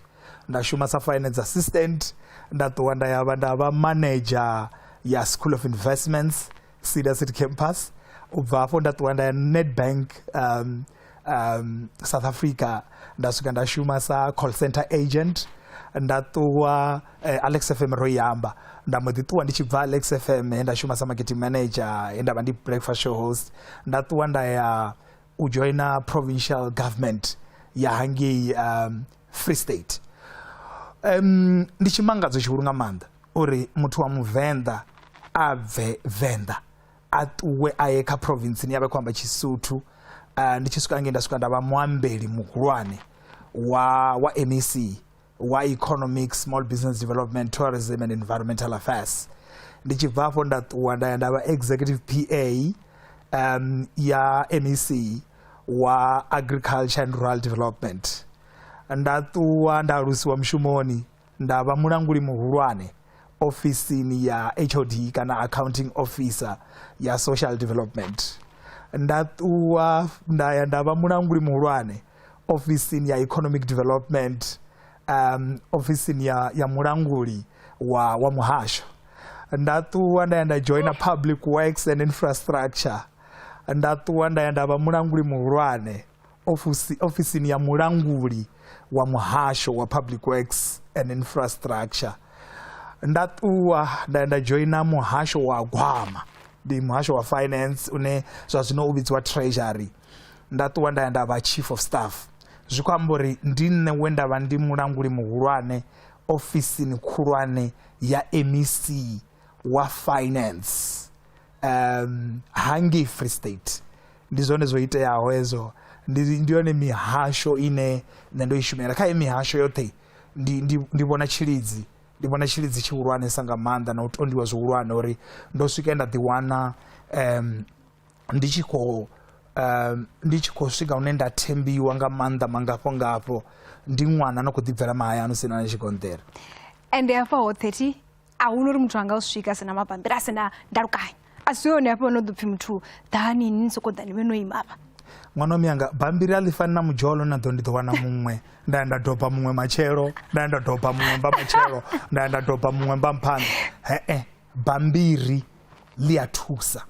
C: nda shuma sa finance assistant nda ṱuwa nda yavha nda vha manager ya school of investments sida city campus u bva hafho nda ṱuwa nda ya nedbank um, um, south africa nda swika nda shuma sa call center agent nda ṱuwa eh, alex fm ro yamba nda mbo ḓi ṱuwa ndi tshi bva alex fm he nda shuma sa marketing manager he nda vha ndi breakfast show host nda ṱuwa nda ya u joina provincial government ya hangei um, free state um, ndi tshimangadzo tshihulu nga maanḓa uri muthu wa muvenḓa a bve venḓa a ṱuwe a ye kha provinceni ya vha khou amba tshisuthu uh, ndi tshi swika ngei nda swika nda vha muambeli muhulwane wa wa mec wa economic small business development tourism and environmental affairs ndi tshi bva afho nda ṱuwa nda ya nda vha executive pa um, ya mec wa agriculture and rural development nda ṱuwa nda alusiwa mushumoni nda vha mulanguli muhulwane ofisini ya hod kana accounting officer ya social development nda ṱuwa nda ya nda vha mulanguli muhulwane ofisini ya economic development um, ofisini ya, ya mulanguli wa, wa muhasho nda ṱuwa nda ya nda joina public works and infrastructure nda ṱuwa nda ya nda vha mulanguli muhulwane ofisi, ofisini ya mulanguli wa muhasho wa public works and infrastructure nda ṱuwa nda ya nda joina muhasho wa gwama ndi muhasho wa finance une zwa zwino u vhidziwa treasury nda ṱuwa nda ya nda vha chief of staff zwi khou amba uri ndi nṋe we nda vha ndi mulanguli muhulwane ofisini khulwane ya mec wa finance um hangei free state ndi zwone zwo iteaho hezwo ndi yone mihasho ine nṋe ndo i shumela kha ye mihasho yoṱhe ndi vhona tshilidzi ndi vhona tshilidzi tshihulwanesa nga maanḓa na u tondiwa zwihulwane uri ndo swika nda ḓiwana um ndi tshi khou um, ndi tshi khou swika hune nda thembiwa nga maanḓa mangafho ngafho ndi ṅwana no khou ḓibvela mahayani sina na tshigonḓela ende hafha
B: ho 30 a hu no uri muthu anga u swika sina mabambiri a sina ndalukanyo a si yone hafha no ḓo pfhi muthu ḓani ni sokou ḓani vhe no imavha ṅwana wa miyanga
C: bambiri a ḽifani na mudzholo na ḓo ndi ḓo wana muṅwe nda ya nda doba muṅwe matshelo nda ya nda doba muṅwe mba matshelo nda ya nda doba muṅwe mba mphanḓa he-e bambiri ḽi a thusa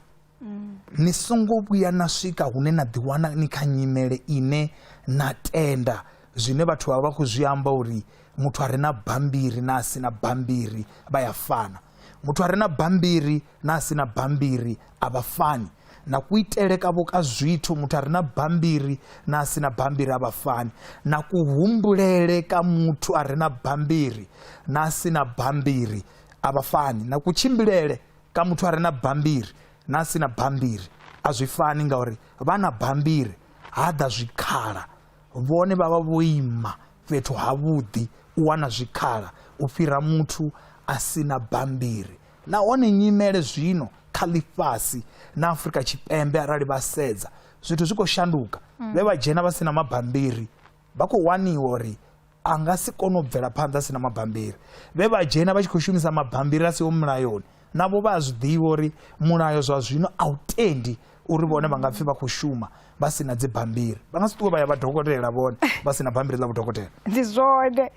C: mm. ni songo vhuya na swika hune na ḓiwana ni kha nyimele ine na tenda zwine vhathu vha vha khou zwi amba uri muthu a re na bambiri na a si na bambiri vha ya fana muthu a re na bambiri na a si na bambiri a vha fani na kuitele kavho ka zwithu muthu a re na bambiri na a si na bambiri a vha fani na kuhumbulele ka muthu a re na bambiri na a si na bambiri a vha fani na kutshimbilele Kha muthu a re na bammbiri na a si na bammbiri a zwi fani ngauri vha na bammbiri ha ḓa zwikhala vhone vha vha vho ima fhethu havhuḓi u wana zwikhala u fhira muthu a si na bammbiri nahone nyimele zwino kha ḽifhasi na Afrika Tshipembe arali vha sedza zwithu zwi khou shanduka vhe vha dzhena vha si na mabammbiri vha khou waniwa uri a nga si kone u bvela phanḓa si na mabambiri vhe vha dzhena vha tshi khou shumisa mabambiri a siho mulayoni navho vha a zwi ḓivha uri mulayo zwa zwino a u tendi uri vhone vha nga pfhi vha khou shuma vha si na dzibambiri vha nga si ṱuwe vha ya vha dokotela vhone vha si na bambiri ḽa vhudokotela ndi zwone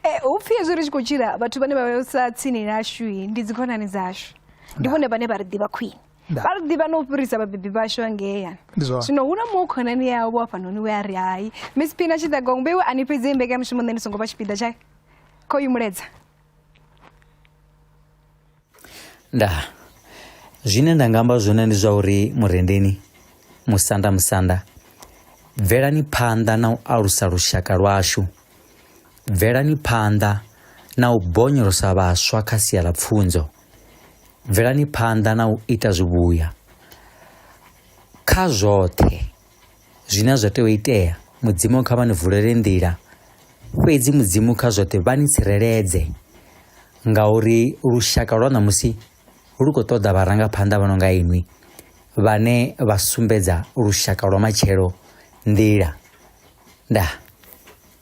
B: eh, hu pfhi hezwi ri tshi khou tshila vhathu vhane vha vhesa tsini nashu ndi dzikhonani dzashu ndi vhone vhane vha ri ḓivha khwine Nda. vha ri ḓivha na u fhirisa vhabebi vhashu vha ngeyani Ndi zwone. zwino hu na muṅwe khonani yawe vho hafhanoni we a ri hai miss phina tshiḓagongbe iwe a ni fhedzi i mbekanyamushumo nṋe ndi songo vha tshipiḓa tsha kho yi muledza
F: nda zwine nda nga amba zwone ndi zwa uri murendeni musanda musanda bvelani phanḓa na u alusa lushaka lwashu bvelani phanḓa na u bonyolosa vhaswa kha sia ḽa pfunzo bvelani phanḓa na u ita zwivhuya kha zwoṱhe zwine zwa tea u itea mudzimu kha vha ni vulele nḓila fhedzi mudzimu kha zwoṱhe vha ni tsireledze ngauri lushaka lwa ṋamusi lu khou ṱoḓa vharangaphanḓa vha no nga inwi vhane vha sumbedza lushaka lwa matshelo nḓila ndaa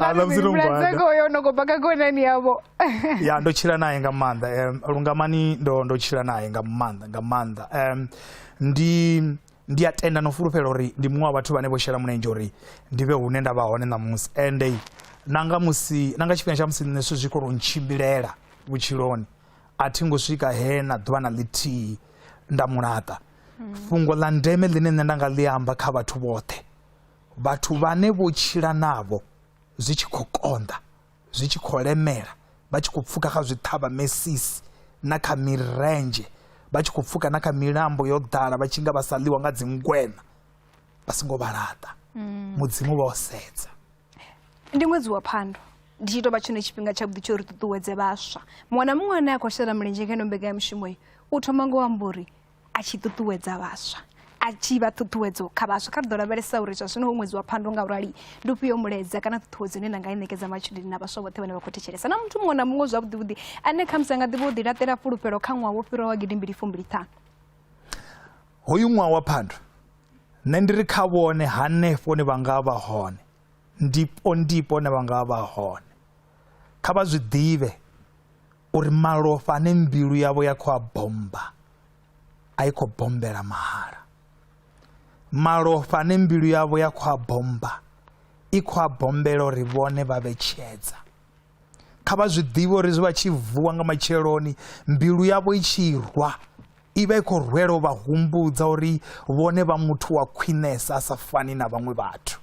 C: Ana vhutsilu vhulwadze ngwanda. koyo no khou bva kha khonani yavho ya ndo tshila naye nga maanḓa um, lungamani ndo ndo tshila naye nga maanḓa nga maanḓa um, ndi ndi a tenda no fulufhela uri ndi muṅwe wa vhathu vhane vho shela mulenzhe uri ndi vhe hune nda vha hone ṋamusi ende na nga musi na nga tshifhinga tsha musi nṋe zwithu zwi khou tou ntshimbilela vhutshiloni a thi ngo swika he na ḓuvha na ḽithihi nda mulaṱa hmm. fhungo ḽa ndeme ḽine nṋe nda nga ḽi amba kha vhathu vhoṱhe vhathu vhane vho tshila navho zwi tshi khou konḓa zwi tshi khou lemela vha tshi khou pfuka kha zwiṱhavha mesisi na kha mirendzhe vha tshi khou pfuka na kha milambo yo ḓala vha tshi nga vha sa ḽiwa nga dzingwena vha songo vha laṱa hmm. mudzimu vha o sedza ndi
B: ṅwedzi wa phando ndi tshi tou vha tshone tshifhinga tshavhuḓi tsho ri ṱuṱuwedze vhaswa muṅwe na muṅwe ane a khou shela mulenzhe ngeno mbekanyamushumo iyi u thoma ngo amba uri a tshi ṱuṱuwedza vhaswa a tshi vha ṱhuṱhuwedzo kha vhaswa kha ri ḓo lavhelesa uri zwa zwino hu ṅwedzi wa phando nga urali ndi ufhio mulaedza kana ṱhuṱhuwedzo ine na nga i ṋekedza matshudeni na vhaswa vhoṱhe vhane vha khou thetshelesa na muthu muṅwe na muṅwe zwavhuḓivhuḓi ane khamusi a nga ḓivha u ḓilaṱela fhulufhelo kha ṅwaha wo fhiraho wa gidi mbili fumbili ṱhanu
C: hoyu ṅwaha wa phando nṋe ndi ri kha vhone hanefho ne vha nga vha hone ndipo ndipo ne vha nga vha hone kha vha zwi ḓivhe uri malofha ane mbilu yavho ya khou a bommba a i khou bombela mahala malofha ane mbilu yavho ya khou a bommba i khou a bombela uri vhone vha vhe tshedza kha vha zwi ḓivhe uri zwi vha tshi vuwa nga matsheloni mbilu yavho i tshi rwa i vha i khou rwela u vha humbudza uri vhone vha muthu wa khwinesa a sa fani na vhaṅwe vhathu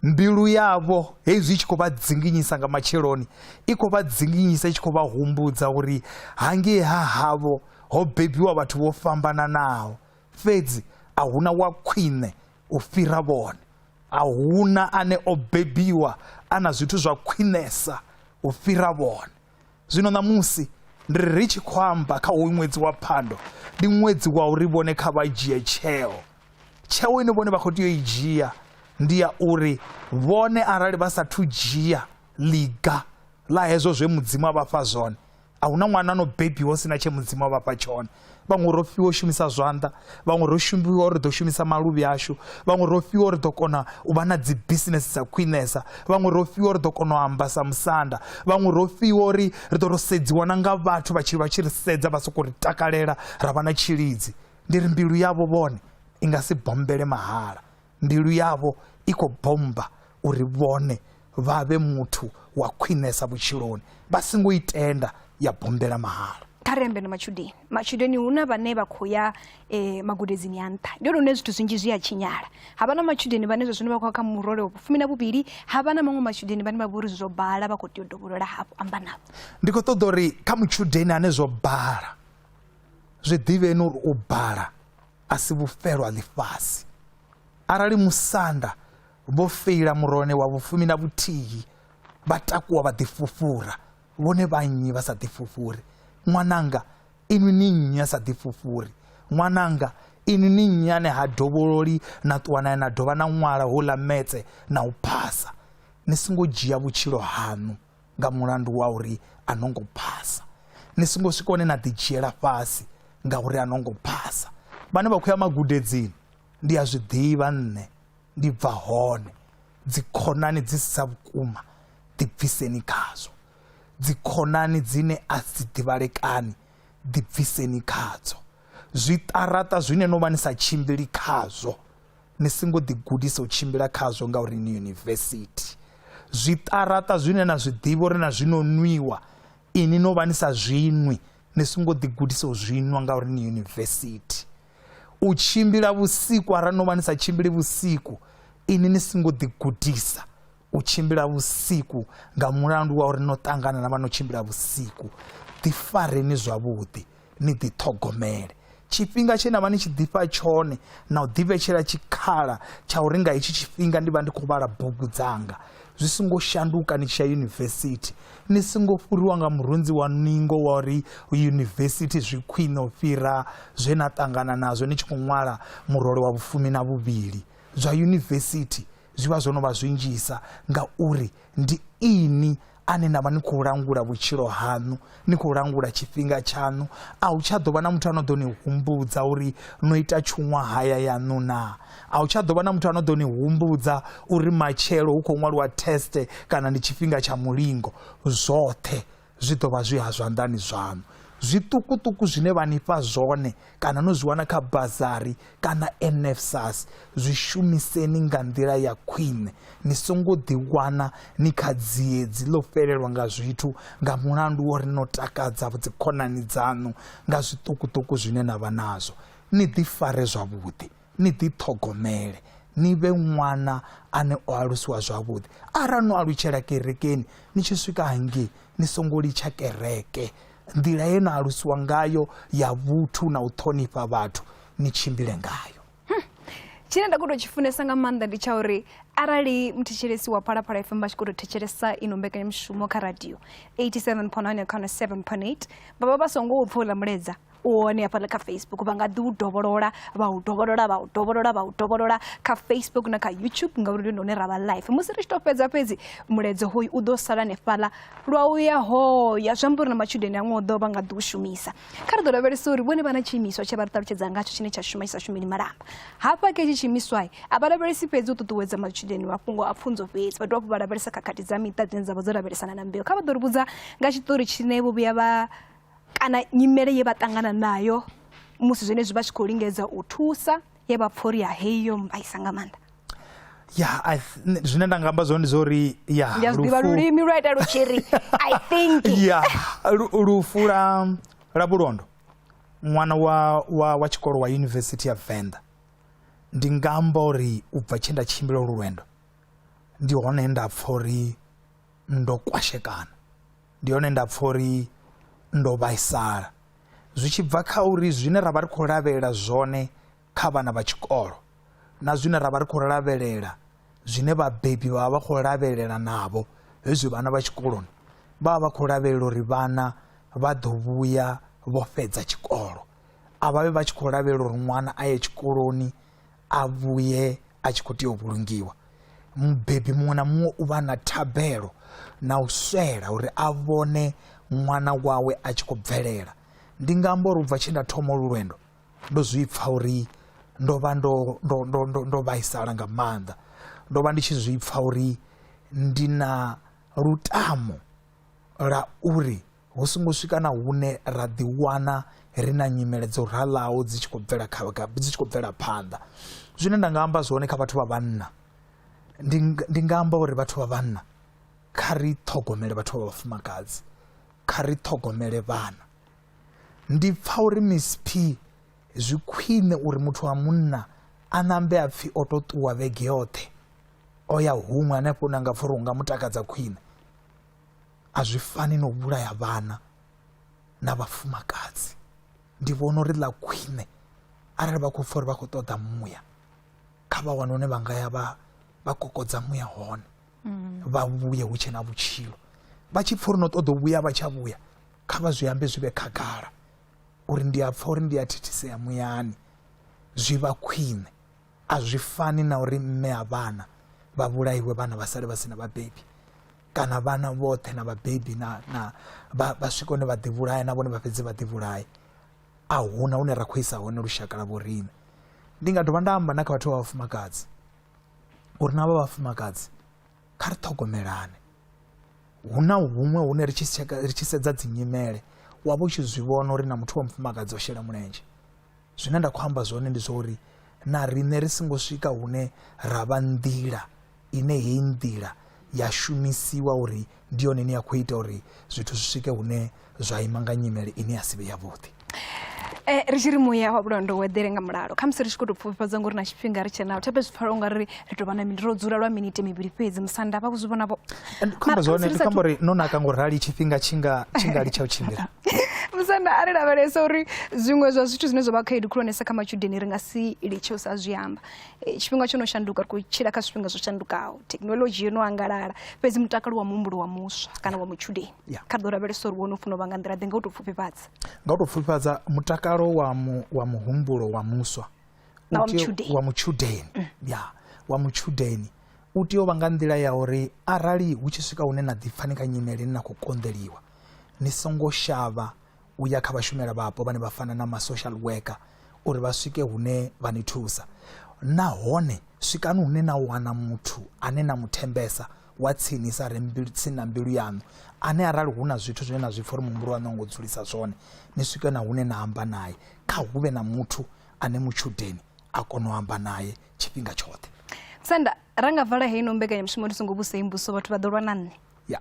C: Mbilu yavho hezwi i tshi khou vha dzinginyisa nga matsheloni, i khou vha dzinginyisa i tshi khou vha humbudza uri hangei ha havho ho bebiwa vhathu vho fhambananaho, fhedzi a huna wa khwine u fhira vhone. A huna ane o bebiwa a na zwithu zwa khwinesa u fhira vhone. Zwino ṋamusi ndi ri ri tshi khou amba kha hoyu ṅwedzi wa phando ndi ṅwedzi wa uri vhone kha vha dzhie tsheo tsheo ine vhone vha khou tea u i dzhia ndi ya uri vhone arali vha sathu dzhia ḽiga ḽa hezwo zwe mudzimu a vha fha zwone a hu na ṅwana no bebiwa hu si na tshe mudzimu a vha fha tshone vhaṅwe ro fhiwa u shumisa zwanḓa vhaṅwe ro shumbiwa uri ḓo shumisa maluvhi ashu vhaṅwe ro fhiwa uri ḓo kona u vha na dzi bisinese dza khwinesa vhaṅwe ro fhiwa uri ḓo kona u amba sa musanda vhaṅwe ro fhiwa uri ri ḓo ro sedziwa na nga vhathu vha tshi vha tshi ri sedza vha sokou ri takalela ra vha na tshilidzi ndi ri mbilu yavho vhone i nga si bombele mahala Mbilu yavho i khou bommba uri vhone vha vhe muthu wa khwinesa vhutshiloni, vha si ngo i tenda ya bombela mahala. Kha ri ambe na matshudeni.
B: Matshudeni hu na vhane vha khou ya eh, magudedzini a nṱha. Ndi hone hune zwithu zwinzhi zwi a tshinyala. Ha vha na matshudeni vhane zwa zwino vha khou ya kha murole wa vhufumi na vhuvhili, ha vha na maṅwe matshudeni vhane vha vha uri zwo bala vha khou tea u dovholola hafhu amba navho. Ndi khou ṱoḓa uri kha mutshudeni
C: ane zwo bala, zwi ḓivheni uri u bala a si vhufelwa ḽifhasi. Arali musanda vho feila murone wa vhufumi na vhuthihi, vha takuwa vha ḓifhufhura, vhone vha nnyi vha sa ḓifhufhuri? Ṅwananga, inwi ni nnyi a sa ḓifhufhuri? Ṅwananga, inwi ni nnyi ane ha dovhololi na ṱuwa nae na dovha na ṅwala houḽa metse na u phasa? Ni songo dzhia vhutshilo haṋu. nga mulandu wa uri a no ngo phasa ni songo swika hone na ḓidzhiela fhasi ngauri a no ngo phasa vhane vha khou ya magudedzini ndi a zwi ḓivha nṋe ndi bva hone dzikhonani dzi si dza vhukuma ḓibviseni khadzo dzikhonani dzine a si ḓivhalekani ḓibviseni khadzo zwiṱaraṱa zwine no vha ni sa tshimbili khazwo Ni songo ḓigudisa u tshimbila khazwo ngauri ni yunivesithi. Zwiṱaraṱa zwine na zwi ḓivha uri na zwino nwiwa, ini no vha ni sa zwinwi. Ni songo ḓigudisa u zwinwa ngauri ni yunivesithi. U tshimbila vhusiku arali no vha ni sa tshimbili vhusiku, ini ni songo ḓigudisa u tshimbila vhusiku nga mulandu wa uri no ṱangana na vha no tshimbila vhusiku ḓifareni zwavhuḓi ni ḓiṱhogomele tshifhinga tshe na vha ni tshi ḓifha tshone na u ḓivhetshela tshikhala tsha uri nga hetshi tshifhinga ndi vha ndi khou vhala bugu dzanga zwi songo shanduka ni tshi ya yunivesithi ni songo fhuriwa nga murunzi wa ningo wa uri yunivesithi zwi khwine u fhira zwe na ṱangana nazwo ni tshi khou ṅwala murole wa vhufumi na vhuvhili zwa yunivesithi zwi vha zwo no vha zwi nzhisa ngauri ndi ini ane na vha ni khou langula vhutshilo haṋu ni khou langula tshifhinga tshaṋu a hu tsha ḓo vha na muthu a no ḓo ni humbudza uri no ita tshuṅwa haya yaṋu naa a hu tsha ḓo vha na muthu a no ḓo ni humbudza uri matshelo hu khou ṅwaliwa teste kana ndi tshifhinga tsha mulingo zwoṱhe zwi ḓo vha zwi ha zwanḓani zwaṋu zwiṱukuṱuku zwine vha ni fha zwone kana no zwi wana kha bazari kana nfsas zwi shumiseni nga nḓila ya khwine ni songo ḓiwana ni kha dziedzi ḽo fhelelwa nga zwithu nga mulandu wo ri no takadza dzikhonani dzaṋu nga zwiṱukuṱuku zwine na vha nazwo ni ḓifare zwavhuḓi Ni ḓiṱhogomele, ni vhe ṅwana ane o alusiwa zwavhuḓi. Arali no alutshela kerekeni, ni tshi swika hangei ni songo litsha kereke. Nḓila ye na alusiwa ngayo ya vhuthu na u ṱhonifha vhathu, ni tshimbile ngayo. Hmm. Tshine
B: nda khou tou tshi funesa nga maanḓa ndi tsha uri arali muthetshelesi wa phalaphala fm vha tshi khou tou thetshelesa i no mbekanyamushumo kha radio 87.9 ya khano 7.8 vha vha vha songo u pfha uḽa muleza u hone hafhaḽa kha facebook vha nga ḓi u dovholola vha u dovholola vha u dovholola vha u dovholola kha facebook na kha youtube ngauri ndi hone ra vha life musi ri tshi tou fhedza fhedzi mulaedza hoyu u ḓo sala hanefhaḽa lwa u ya hoya zwi amba uri na matshudeni aṅwe o ḓo vha nga ḓi u shumisa kha ri ḓo lavhelesa uri vhone vha na tshiimiswa tshe vha ri ṱalutshedza ngatsho tshine tsha shuma tshisa shumeli malamba hafha kha itshi tshiimiswa a vha lavhelesi fhedzi u ṱuṱuwedza matshudeni mafhungo a pfunzo fhedzi vha dovha hafhu vha lavhelesa khakhathi dza miṱa dzine dza vha dzo lavhelesana na mbeu kha vha ḓo ri vhudza nga tshiṱori tshine vho vhuya vha kana nyimele ye vha ṱangana nayo musi zwenezwi vha tshi khou lingedza u thusa ye vha pfha uri ya heyi yo mbaisa nga maanḓa ya
C: zwine nda nga amba zwone ndi zwa uri ya ndi a zwi ḓivha lulimi lwa
B: ita lu tshi ri i think ya
C: lufu la la vhulondo ṅwana wa wa wa tshikolo wa yunivesithi ya venḓa ndi nga amba uri u bva tshe nda tshimbila lu lwendo ndi hone nda pfha uri ndo kwashekana ndi hone nda pfha uri ndo vhaisala zwi tshi bva kha uri zwine ra vha ri khou lavhelela zwone kha vhana vha tshikolo na zwine ra vha ri khou lavhelela zwine vhabebi vha vha vha khou lavhelela navho hezwi vhana vha tshikoloni vha vha vha khou lavhelela uri vhana vha ḓo vhuya vho fhedza tshikolo a vhavhe vha tshi khou lavhelela uri ṅwana a ye tshikoloni a vhuye a tshi khou tea u vhulungiwa mubebi muṅwe na muṅwe u vha na thabelo na u swela uri a vhone ṅwana wawe a tshi khou bvelela ndi nga amba uri ubva tshe nda thoma olu lwendo ndo zwi pfha uri ndo vha ndo ndo ndo ndo ndo vhaisala nga maanḓa ndo vha ndi tshi zwi pfha uri ndi na lutamo la uri hu songo swika na hune ra ḓiwana ri na nyimele dzo ralaho dzi tshi khou bvela dzi tshi khou bvela phanḓa zwine nda nga amba zwone kha vhathu vha vhanna ndi nga amba uri vhathu vha vhanna kha ri ṱhogomele vhathu vha vhafumakadzi kha ri ṱhogomele vhana ndi pfa uri msp zwi khwine uri muthu wa munna a nambe a pfhi o to ṱuwa vhege yoṱhe o ya huṅwe hanefho na nga pfha uri hu nga mu takadza khwine a zwi fani no vhulaya vhana na vhafumakadzi ndi vhona uri ḽa khwine arali vha khou pfha uri vha khou ṱoḓa muya kha vha wane hune vha nga ya vha vha kokodza muya hone mm. vha vhuye hu tshe na vhutshilo vha tshi pfha uri no ṱoḓa u vhuya vha tsha vhuya kha vha zwi ambe zwi vhe khagala uri ndi a pfha uri ndi a thithisea muyani zwi vha khwine a zwi fani na uri mme a vhana vha vhulaiwe vhana vha sale vha si na vhabebi kana vhana vhoṱhe na vhabebi na na vha vha swika hune vha ḓivhulaya na vhone vha fhedze vha ḓivhulaya a huna hune ra khou isa hone lushaka la vhorine ndi nga dovha nda amba na kha vhathu vha vhafumakadzi uri na vha vhafumakadzi kha ri ṱhogomelane hu na huṅwe hune ri tshi ri tshi sedza dzinyimele wa vha u tshi zwi vhona uri na muthu wa mufumakadzi o shela mulenzhe Zwine nda khou amba zwone ndi zwa uri na riṋe ri songo swika hune ra vha nḓila ine heyi nḓila ya shumisiwa uri ndi yone ine ya khou ita uri zwithu zwi swike hune zwa ima nga nyimele ine ya si vhe yavhuḓi Eh, ri
B: tshi ri muya wa vhulondo u eḓele nga mulalo khamusi ri tshi khou tou pfufhifhadza ngori na tshifhinga ri tshe nawo tsha fhedzi pfala u nga ri ri tou vha na ro dzula lwa miniti mivhili fhedzi musanda vha kuzwi vhona vho khamba zwone ndi
C: khamba uri no naka ngo rali tshifhinga tshinga tshinga litsha u tshimbila musanda a ri
B: lavhelesa uri zwiṅwe zwa zwithu zwine zwa vha khaedu khulwanesa kha matshudeni ri nga si litshe u sa zwi amba e, tshifhinga tsho no shanduka ri khou tshila kha zwifhinga zwo shandukaho thekhinolodzhi yo no angalala fhedzi mutakalo wa muhumbulo wa muswa kana wa mutshudeni kha ri ḓo lavhelesa uri wo no funa u vha nga nḓila ḓe nga u tou pfufhifhadza nga u tou pfufhifhadza
C: mutakalo wa muhumbulo wa muswa Na wa u tea- mutshudeni. wa mutshudeni ya wa mutshudeni u tea u vha nga nḓila ya uri arali hu tshi swika hune na ḓipfa ni kha nyimele ni na khou konḓeliwa ni songo shavha u ya kha vhashumela vhapo vhane vha fana na ma-social worker uri vha swike hune vha ni thusa nahone swikani hune na wana muthu ane na mu thembesa wa tsinisa re mbilu- tsini na mbilu yaṋu ane arali hu na zwithu zwine na zwi pfa uri muhumbulo waṋu a ngo dzulisa zwone ni swike na hune na amba naye kha hu vhe na muthu ane mutshudeni a kona u amba naye tshifhinga tshoṱhe senda ra
B: nga vala heino mbekanyamushumo ri songo vhusei mbuso vhathu vha ḓo lwa na nṋe ya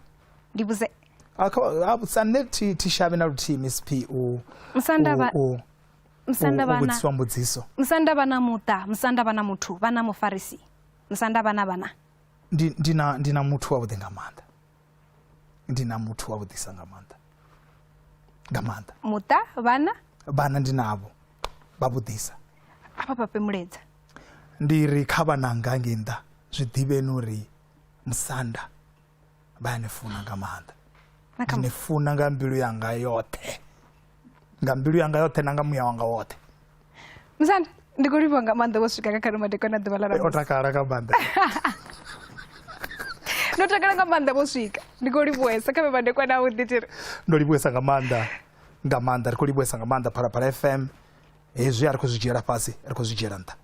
B: ndi vhuse ah, ah, sa
C: nṋe thi shavhe na luthihi msp u vhudziswa mbudziso musanda vha na muṱa
B: musanda vha na muthu vha na mufarisi musanda vha na vhana ndi
C: na muthu wavhuḓi nga maanḓa ndi na muthu wa vhuḓisa nga maanḓa nga maanḓa muṱa
B: vhana vhana ndi navho
C: vha vhuḓisa afha
B: pape muledza ndi ri
C: kha vhananga ngei nnḓa zwi ḓivheni uri musanda vha ya ni funa nga maanḓa ndi ni funa nga mbilu yanga yoṱhe nga mbilu yanga yoṱhe na nga muya wanga woṱhe musanda
B: ndi khou livhuwa nga maanḓa wo swika kha khalumadeko na ḓuvha ḽa o takala nga maanḓa ndo takala nga maanḓa vho swika ndi khou livhuesa kha vhemadekwa na u ḓitiri ndo livhuesa nga
C: maanḓa nga maanḓa ri khou livhuesa nga maanḓa phalaphala fm hezwi a ri khou zwi dzhiela fhasi ri khou zwi dzhiela nṱha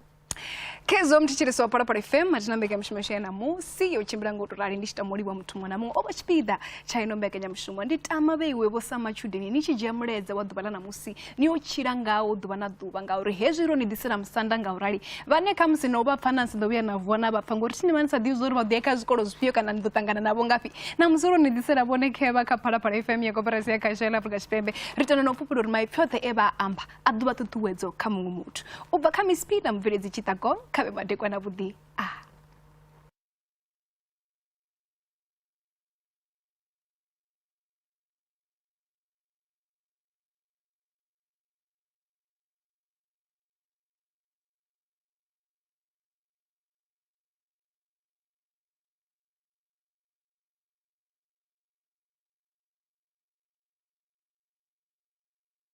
C: khezwo
B: mthetshelesi wa phalaphala fm athina mbekanyamushumo yashu ya ṋamusi yo tshimbila ngo to rali ndi tshi tama u livha muthu muṅwe na muṅwe o vha tshipiḓa tsha ino mbekanyamushumo ndi tama vheiwe vho sa matshudeni ni tshi dzhia mulaedza wa ḓuvha ḽa ṋamusi ni yo tshila ngawo ḓuvha na ḓuvha ngauri hezwi ro ni ḓisela musanda nga u rali vhane kha musi no vha pfa na si ḓo vhuya na vuwa na vha pfa ngori thi ni vha ni sa ḓivhi zwa uri vha ḓo ya kha zwikolo zwifhio kana ni ḓo ṱangana navho ngafhi ṋamusi ro ni ḓisela vhone khevha kha phalaphala fm ya koperasi ya khasho ya ḽa afrika tshipembe ri tenda na u fhufhela uri maipfi oṱhe e vha amba a ḓuvha ṱuṱuwedzo kha muṅwe muthu u bva kha misp na mubveledzi tshiṱagong kha vhe madekwa na vhuḓi a